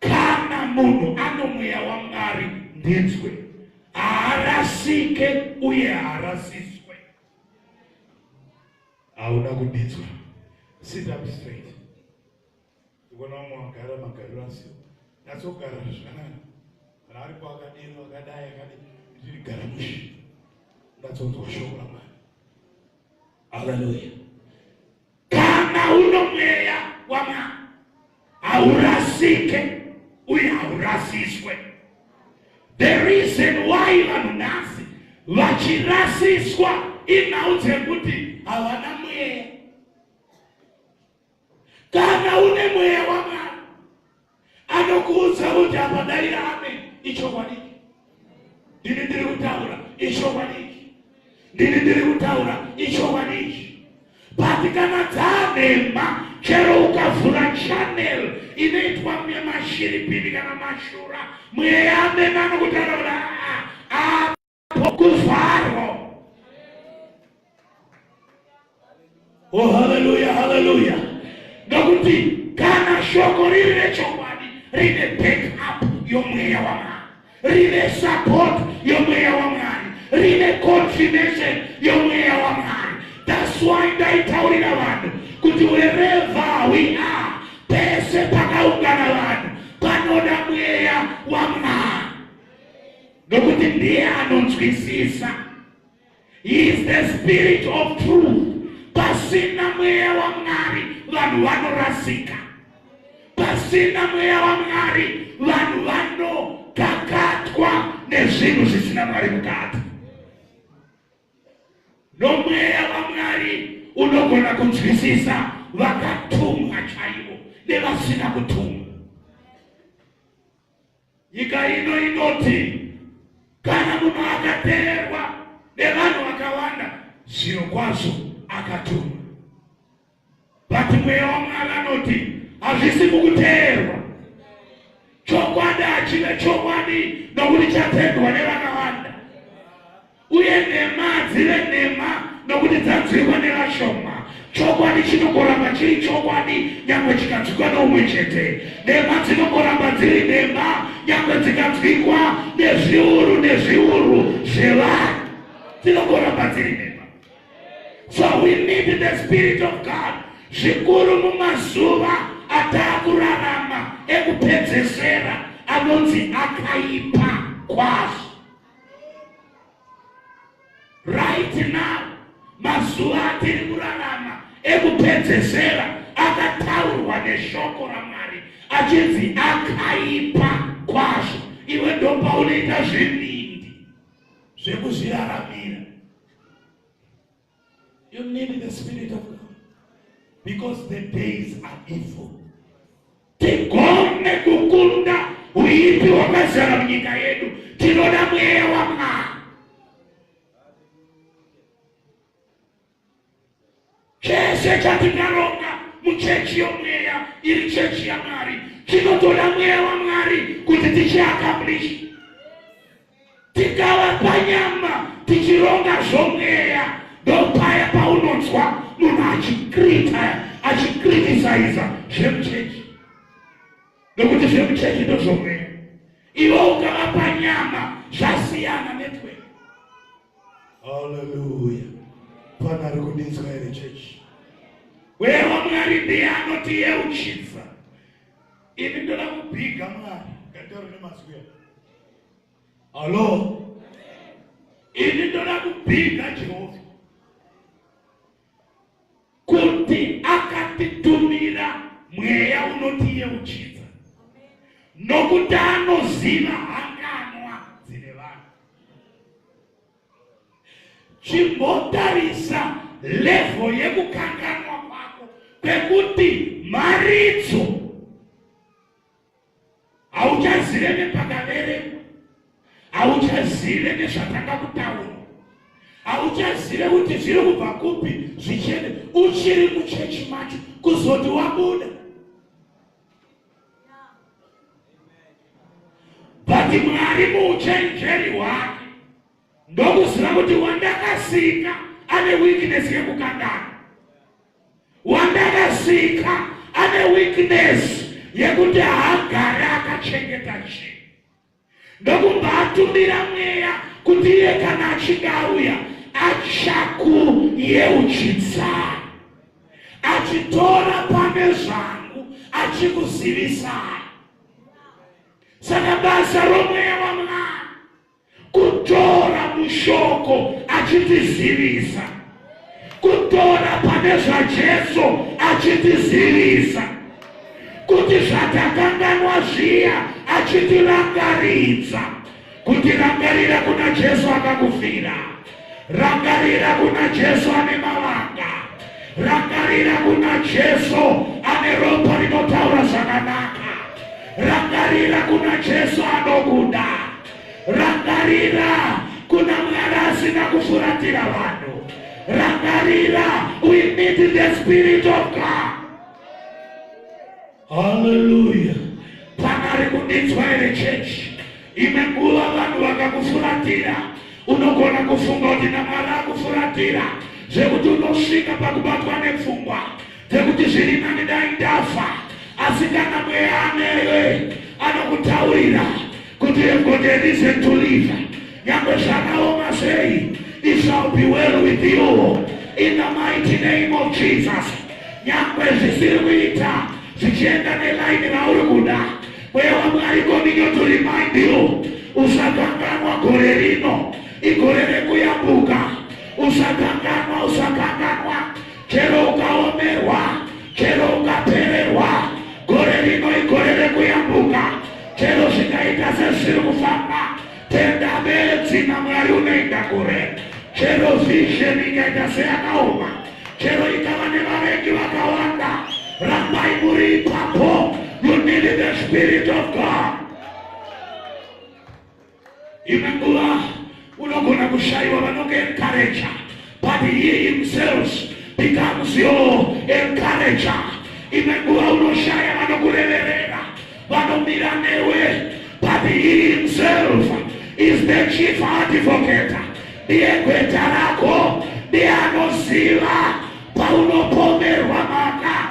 Speaker 2: Kana munhu ano mweya waMwari ndinzwe, haarasike uye haarasiswe. Hauna kudinzwa. Sit up straight. Ndikuona vamwe vagara magariro asio. Natsogara zvakanaka. Kana aripo akadini akadai akadini. Ndiri gara mushi. Ndatsonzwa shoko raMwari. Hallelujah. Kana uno mweya wamwana haurasike uye haurasiswe. The reason why vanhu nhasi vachirasiswa inhau dzekuti havana mweya. Kana une mweya wamwana anokuudza kuti apa daira amen ichokwadiki ndini ndiri kutaura ichokwadiki ndini ndiri kutaura ichokwadiki but kana dzanhema chero ukavhura chanel inoitwa mashiripini kana mashura mweya amene anokutaura kuti aa pokuvharwa oh haleluya haleluya nokuti kana shoko riri rechokwadi rine backup yomweya wamwari rine support yomweya wamwari rine confirmation yomweya wamwari that's why ndaitaurira vanhu kuti wherever we are pese pakaungana vanhu panoda mweya wamwari nokuti ndiye anonzwisisa he is the spirit of truth pasina mweya wamwari vanhu vanorasika pasina mweya wamwari vanhu vanokakatwa nezvinhu zvisina mwari mukati nomweya wamwari unogona kunzwisisa vakatumwa chaivo nevasina kutumwa Nyika ino inoti kana munhu akateerwa nevanhu vakawanda, zviro kwazvo akatumwa. Bati mweya waMwari anoti hazvisi mukuteerwa chokwadi, hachive chokwadi nokuti chatendwa nevakawanda. uye nhema dzive nhema nokuti dzanzwikwa nevashoma chokwadi chinongoramba chiri chokwadi nyangwe chikanzwikwa neumwe chete nhema dzinongoramba dziri nhema nyangwe dzikanzwikwa nezviuru nezviuru zvevanhu dzinongoramba dziri nhema so we need the spirit of god zvikuru mumazuva ataakurarama ekupedzesera anonzi akaipa kwazvo right now mazuva atiri kurarama ekupedzesera akataurwa neshoko ramwari achinzi akaipa kwazvo iwe ndopaunoita zvivindi zvekuzviraramira You need the Spirit of God because the days are evil. Tigone kukunda uipi wakazara munyika yedu, tinoda mweya waMwari. Chese chatikaronga muchechi yomweya iri chechi yaMwari, tinotoda mweya waMwari kuti tichiakambishi tikava panyama tichironga zvomweya ndopaya paunonzwa munhu achikrita achikritisaiza zvemuchechi nokuti zvemuchechi ndozvomweya iwe ukava panyama zvasiyana netwe haleluya pana ari kudinzwa here chechi weya wamwari ndiye anoti yeuchidza ini ndoda kubhiga mwari ngataure nemazwi Hello. Ini ndoda kupinda Jehovha kuti akatitumira mweya unotiyeuchidza nokuti anoziva hanganwa dzine vanhu. Chimbotarisa levo yekukanganwa kwako kwekuti mharidzo hauchazive nepakaverekwa hauchazive nezvatanga kutaura hauchazive kuti zviri kubva kupi zvichene uchiri muchechi macho kuzoti wabuda but mwari muuchenjeri hwake ndokuziva kuti wandakasika ane weakness yekukandana wandakasika ane weakness yekuti haagare akachengeta chinhu ndokubva atumira mweya kuti iye kana achinge auya achakuyeuchidza achitora pane zvangu achikuzivisai saka basa romweya wamwari kutora mushoko achitizivisa kutora pane zvajesu achitizivisa kuti zvatakanganwa zviya achitirangaridza kutirangarira kuna jesu akakufira Rangarira kuna Jesu ane mavanga, rangarira kuna Jesu ane ropa rinotaura zvakanaka, rangarira kuna Jesu anokuda, rangarira kuna Mwari asina kufuratira vanhu, rangarira, we need the spirit of God. Haleluya. Panari kudinzwa here chechi? Imwe nguva vanhu vakakufuratira, unogona kufunga kuti naMwari akufuratira zvekuti unosvika pakubatwa nepfungwa dzekuti zviri nani dai ndafa, asi kana mweya anewe anokutaurira Kuti you've got a reason to live. Nyangwe zvakaoma sei, it shall be well with you in the mighty name of Jesus. Nyangwe zvisiri kuita zvichienda nelaini rauri kuda, mweya waMwari kominyo to remind you, usakanganwa gore rino, igore rekuyambuka, usakanganwa, usakanganwa chero ukaomerwa chero ukapererwa gore rino igore rekuyambuka chero zvikaita sezviri kufamba tenda bedzi namwari unoenda kure chero vision ikaita seyakaoma chero ikava nevavengi vakawanda rambai muri ipapo you need the spirit of god Imwe nguva unogona kushaiwa vanonge encourager but he himself becomes your encourager. Imwe nguva unoshaya vanokureverera vanomira newe but he himself is the chief advocate. Ndiye gweta rako ndiye anoziva paunopomerwa maka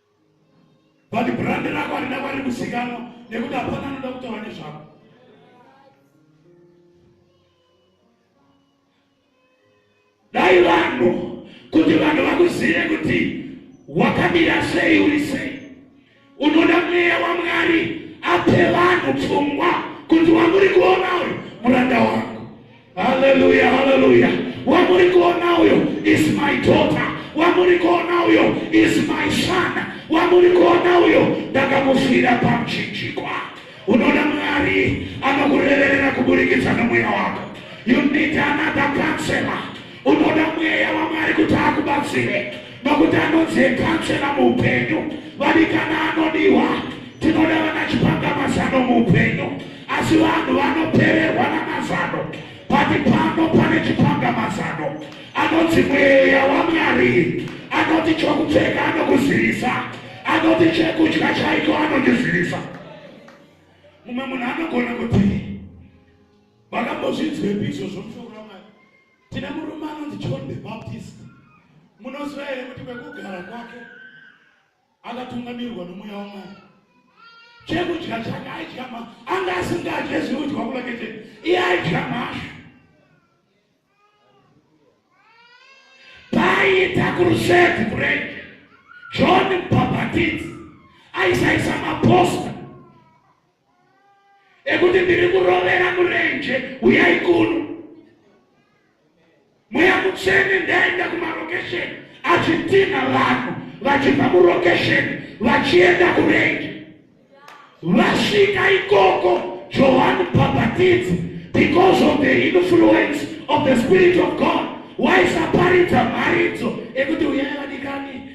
Speaker 2: but brand rako harina kwari kuzikanwa nekuti hapana anoda kutaura nezvako dai vanhu kuti vanhu vakuzive kuti wakamira sei uri sei unoda mweya wamwari ape vanhu pfungwa kuti wamuri kuona uyu muranda wangu Hallelujah, hallelujah. Wamuri kuona uyo is my daughter. Wamuri kuona uyo is my son. Wamuri kuona uyo ndakamufira pamchinjikwa. Unoda Mwari anokureverera kuburikidza nomweya wako. You need another counselor. Unoda mweya waMwari kuti akubatsire. nokuti anodzekachena muupenyu vadikana anodiwa tinoda vana chipanga mazano muupenyu asi vanhu vanopererwa namazano pati pano pane chipanga mazano anoti mweya wamwari anoti chokupfeka anokuzivisa anoti chekudya chaiko anondizivisa mumwe munhu anogona kuti vakambozvinzwepi izvozvo Tine murume anonzi John the Baptist. Munoziva here kuti kwekugara kwake akatungamirwa nomweya wamwari chekudya chake aidya ma anga asingadye zvinodya kulake chete iye aidya mashu paiita kuruseti kurenge john bhabhatidzi aisaisa maposta ekuti ndiri kurovera murenje uyai kuno mweya mutsvene ndaenda kumarokesheni achitinha vanhu vachibva murokesheni vachienda kurenje vasvika ikoko johani bhabhatidzi because of the influence of the spirit of god waisaparidza mharidzo ekuti uyai vadikani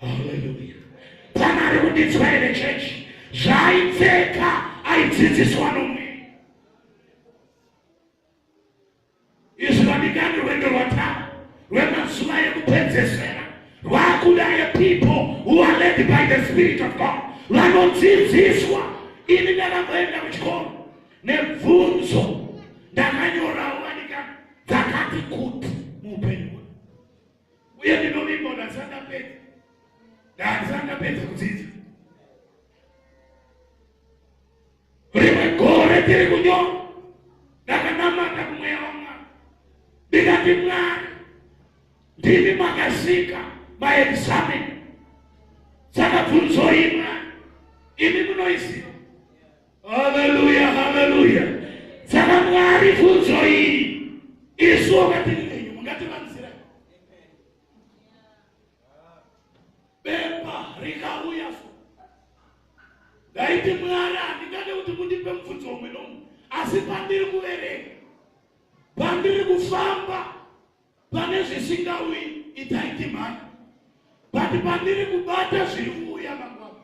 Speaker 2: haleluya pana ari kuditswa here chechi zvaaipfeka aidzidziswa nomwe izvi vanikani rwendo rwatava rwemazuva yekupedzesera rwakuda yepeople who are led by the spirit of god vanodzidziswa ini ndakamboenda kuchikoro nebvunzo ndakanyorawo vanika dzakati kuti muupenyu uye ndinovimba kuti handisati ndapedza ndahandisati ndapedza kudzidza rimwe gore tiri kunyora ndakanamata kumweya wamwari ndikati mwari ndimi makasika maexameni saka bvunzo imwa imi munoiziva Haleluya, haleluya. Saka Mwari funzo iyi isu wakatiri nenyu mungativanzira bepa rikauya so ndaiti Mwari handingade kuti mundipe mubvunzo umwe nomwe asi pandiri kuverenga pandiri kufamba Pane zvisingauyi itai ndimhanya, but pandiri kubata zviri kuuya mangwana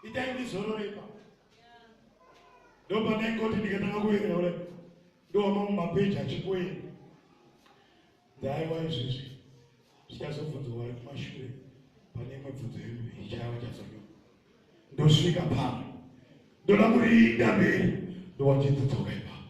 Speaker 2: itai ndizorore ipapo. Ndo pandaingoti ndikatanga kuenda kudai ndowamamwe mapeji achikuenda ndaiwa izvizvi zvichazobvunzwa vari kumashure pane imwe bvunzo yedu ichava chazonyo ndosvika pano ndoda kuriinda mberi ndowachidzoka ipapo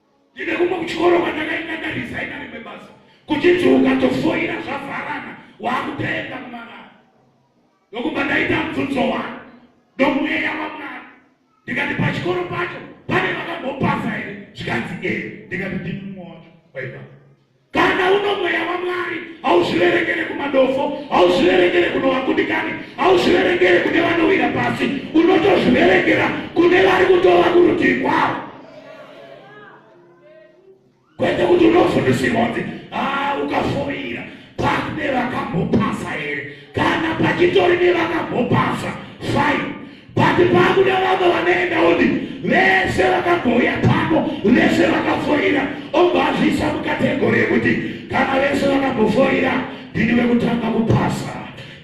Speaker 2: Ndine kumwe kuchikoro kwandakaenda ndarisaina rimwe basa kuchinzi ukatofoira zvavharana wakutoenda kumarara ndokubva ndaita mubvunzo wani nomweya wamwari ndikati pachikoro pacho pane vakambopasa here zvikanzi e ndikati ndimumwe wacho waipa kana uno mweya wamwari hauzviverengere kumadofo hauzviverengere kuno vakundikani hauzviverengere kune vanowira pasi unotozviverengera kune vari kutova kurutivi kwavo kwete kuti unofundisirwa kuti haa ukafoira pakune vakambopasa here kana pachitori nevakambopasa fine Pati pangu nevamwe vanoenda uni vese vakambouya pano vese vakafoira obva azviisa mukategori yekuti kana vese vakambofoira ndini vekutanga kupasa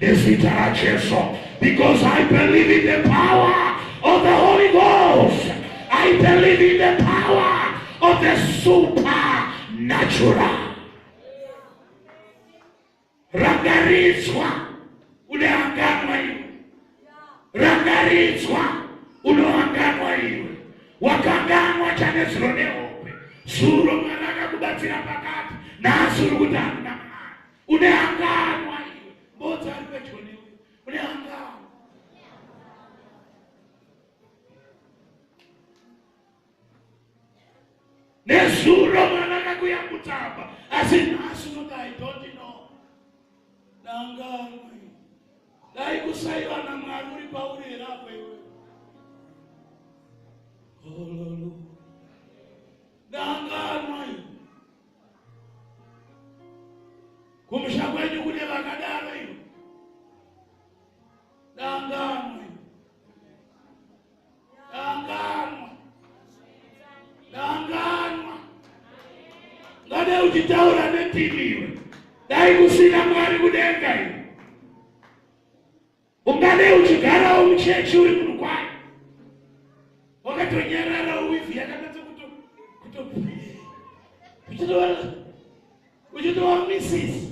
Speaker 2: nezita rajesu because i believe in the power of the holy ghost i believe in the power of the supernatural Rangaridzwa unehanganwa iwe, rangaridzwa unohanganwa iwe, wakanganwa chanezuro nehope zuro mwana akakubatsira pakati nhasi uri kuti hamuna mwana unehanganwa iwe mbodza ari pedyo newe unehanganwa nezuro mwana akakuya kutamba asi nhasi unoti i don't know dangamwe dai kusaiva namwari uri pauri here apo iwe ololo dangamwe kumusha kwenyu kune vakadaro iwe dangamwe Kanganwa. Kanganwa. Ngade uchitaura netivi iwe. Dai kusina mwari kudenga iwe. Ungade uchigarawo muchechi uri munhu kwayo. Wakatonyarara uwivi yakanatsa kuto kuto uchitova uchitova misisi.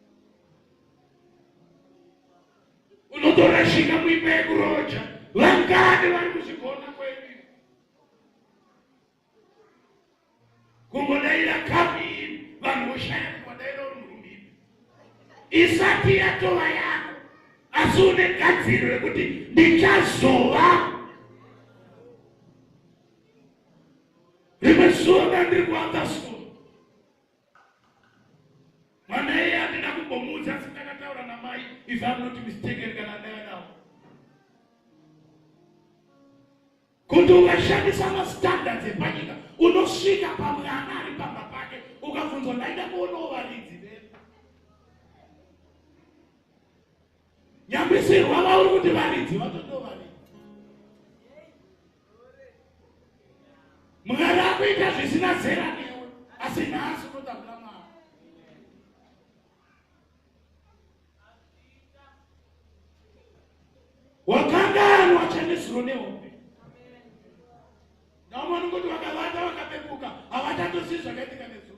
Speaker 2: unotorashika muimba yekuroja vangani vari kuzvigona kwedu kungodaira kapi vanhu voshaya kuvadaira uri murumbipi isati yatova yako asi une gadziro yekuti ndichazova rimwe zuva ndandiri kuanza school mwana iye andina kumbomuudza asi ndakataura namai if am not mistaken kana ndaya nawo kuti ukashandisa mastandards epanyika unosvika pamwana ari pamba pake ukabvunzwa ndaida kuonawo varidzi nyambisirwa vauri kuti varidzi vatotovanidzi Mwari akuita zvisina zera newe asi nhasi unoda kuna Mwari. Wakanganwa chanesuro nehombe. Naomwe anongoti vakavata vakapepuka havatatosi zvakaitika nezuro.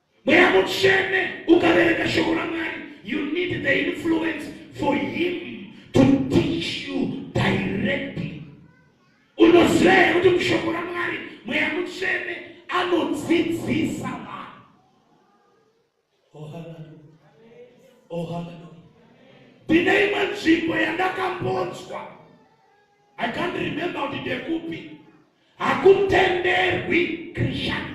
Speaker 2: Mweya mutsvene ukavereka shoko raMwari, you need the influence for him to teach you directly. Unoziva here kuti mushoko raMwari mweya mutsvene anodzidzisa vanhu? Oh hallelujah. Oh hallelujah. Ndine imwe nzvimbo yandakambonzwa. I can't remember kuti ndekupi. Hakutenderwi Christianity.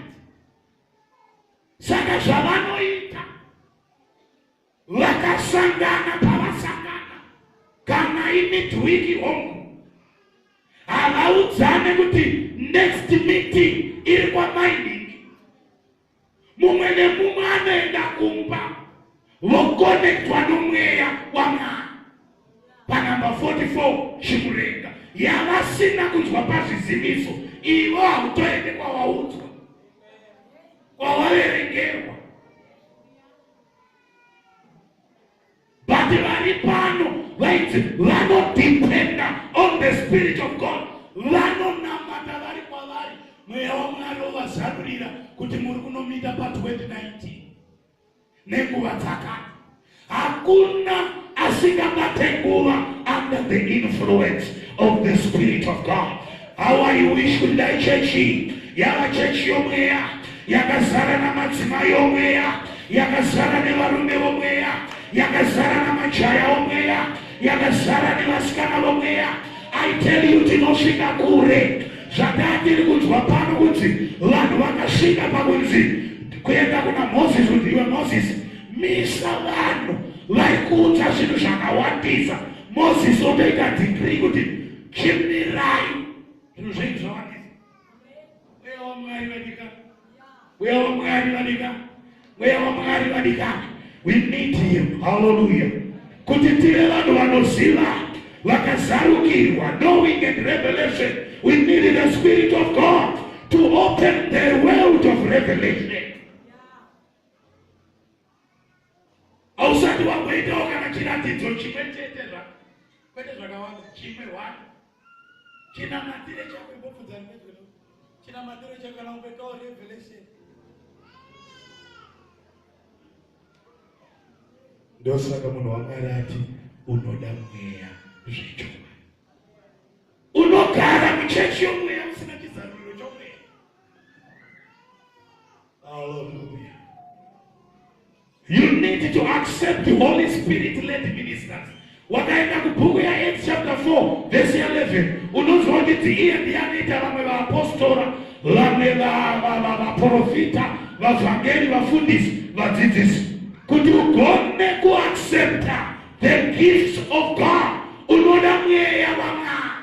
Speaker 2: saka zvavanoita vakasangana pavasangana kana imidwiki hongu havaudzane kuti next meeting iri kwamainiki mumwe nemumwe anoenda kumba vokonektwa nomweya wamwana panumber 44 chimurenga yavasina kunzwa pazvizimiso ivo hautoende kwawaudzwa kwawaverengerwa vati vari pano vaiti vanodependa on the spirit of god vanonamata vari kwavari mweya wamwari ovazarurira kuti muri kunomita pa 2019 nenguva dzakati hakuna asingabate nguva under the influence of the spirit of god how i wish kuti dai chechi yava chechi yomweya yakazara namadzimai omweya yakazara nevarume vomweya yakazara namajaya omweya yakazara nevasikana vomweya i tell you tinosvika kure zvataa tiri kunzwa pano kuti vanhu vakasvika pakunzi kuenda kuna moses kuti iwe moses misa vanhu vaikuudza zvinhu zvakawandisa moses otoita digrii kuti chimirai zvinhu zvenyu zvawandisa Mweya waMwari vadika. Mweya waMwari vadika. Mweya waMwari vadika. We need him. Hallelujah. Kuti tive vanhu vanoziva vakazarukirwa knowing and revelation we need the spirit of God to open the world of revelation. hausati wamboitawo kana chiratidzo chimwe chete zva kwete zvakawanda chimwe one chinamatire chako imbobvunza rimwezvino chinamatire chako kana umboitawo revelation ndosaka munhu wamwari ati unoda mweya zvechokwadi unogara muchechi yomweya usina chizaruriro chomweya Hallelujah. You need to accept the Holy Spirit led ministers. Wakaenda kubhuku ya Acts chapter 4 verse 11 unonzwa kuti iye ndiye anoita vamwe vaapostora vamwe vaprofita vavhangeri vafundisi vadzidzisi kuti ugone kuaccepta the gifts of God unoda mweya wamwari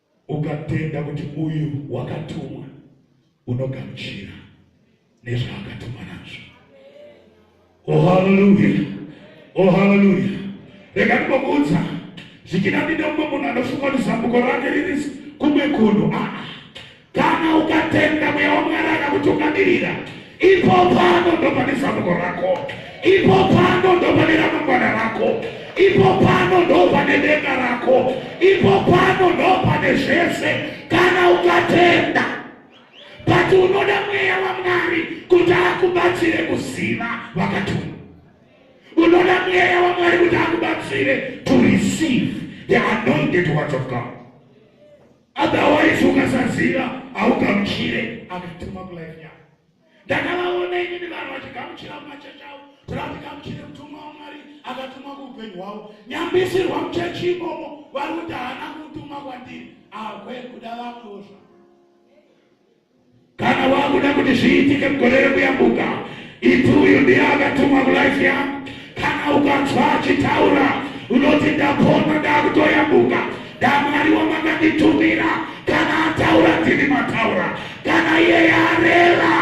Speaker 2: Ukatenda kuti uyu wakatumwa, unogamuchira nezvaakatumwa nazvo. O oh, haleluya! O oh, haleluya! Rega ndinokuudza zvikinapinda mumwe munhu anofunga kuti zambuko rake riri kumwe kunhu. Ah, ah. Kana ukatenda mweya wamwari akakutungamirira Ipo pano ndo pane zambuko rako, ipo pano ndo pane ramangwana rako, ipo pano ndo pane denga rako, ipo pano ndo pane zvese kana ukatenda. But unoda mweya waMwari kuti akubatsire kuziva vakatuma. Unoda mweya waMwari kuti akubatsire to receive the anointed words of God. Otherwise ukasaziva haugamuchire akatuma kulife yako. Ndakavaona inini vanhu vachigamuchira mumachechi avo, toda kuti gamuchire mutumwa waMwari akatumwa kuupenyu hwavo. Nyambisirwa muchechi imomo vari kuti haana kutuma kwandiri, akwe kuda vamwewo zvavo. Kana wakuda kuti zviitike mugore rekuyambuka, iti uyu ndiye akatumwa mulife yangu. Kana ukanzwa achitaura unoti ndapona, ndakutoyambuka, ndamwari wamanganditumira. Kana ataura ndini mataura, kana iye yarera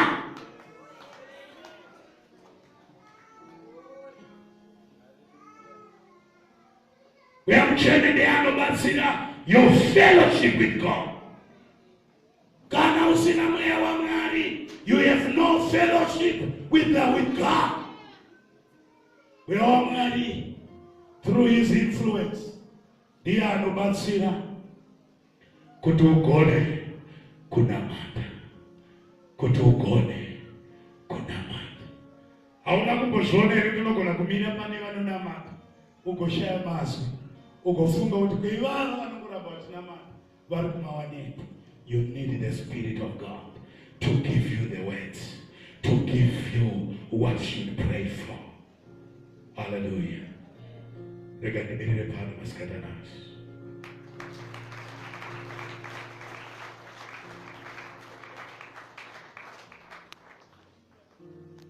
Speaker 2: uyamuchene ndeanobatsira your fellowship with God. Kana usina mweya waMwari, you have no fellowship with the with God. Mweya waMwari through his influence ndiye anobatsira kuti ugone kunamata, kuti ugone kunamata. Hauna kumbozviona here tinogona kumira pane vanonamata ugoshaya mazwi ugofunga kuti kweivava vari kumawanepi you need the spirit of god to give you the words to give you what should pray for haleluya rega ndimirire pano masikatanazi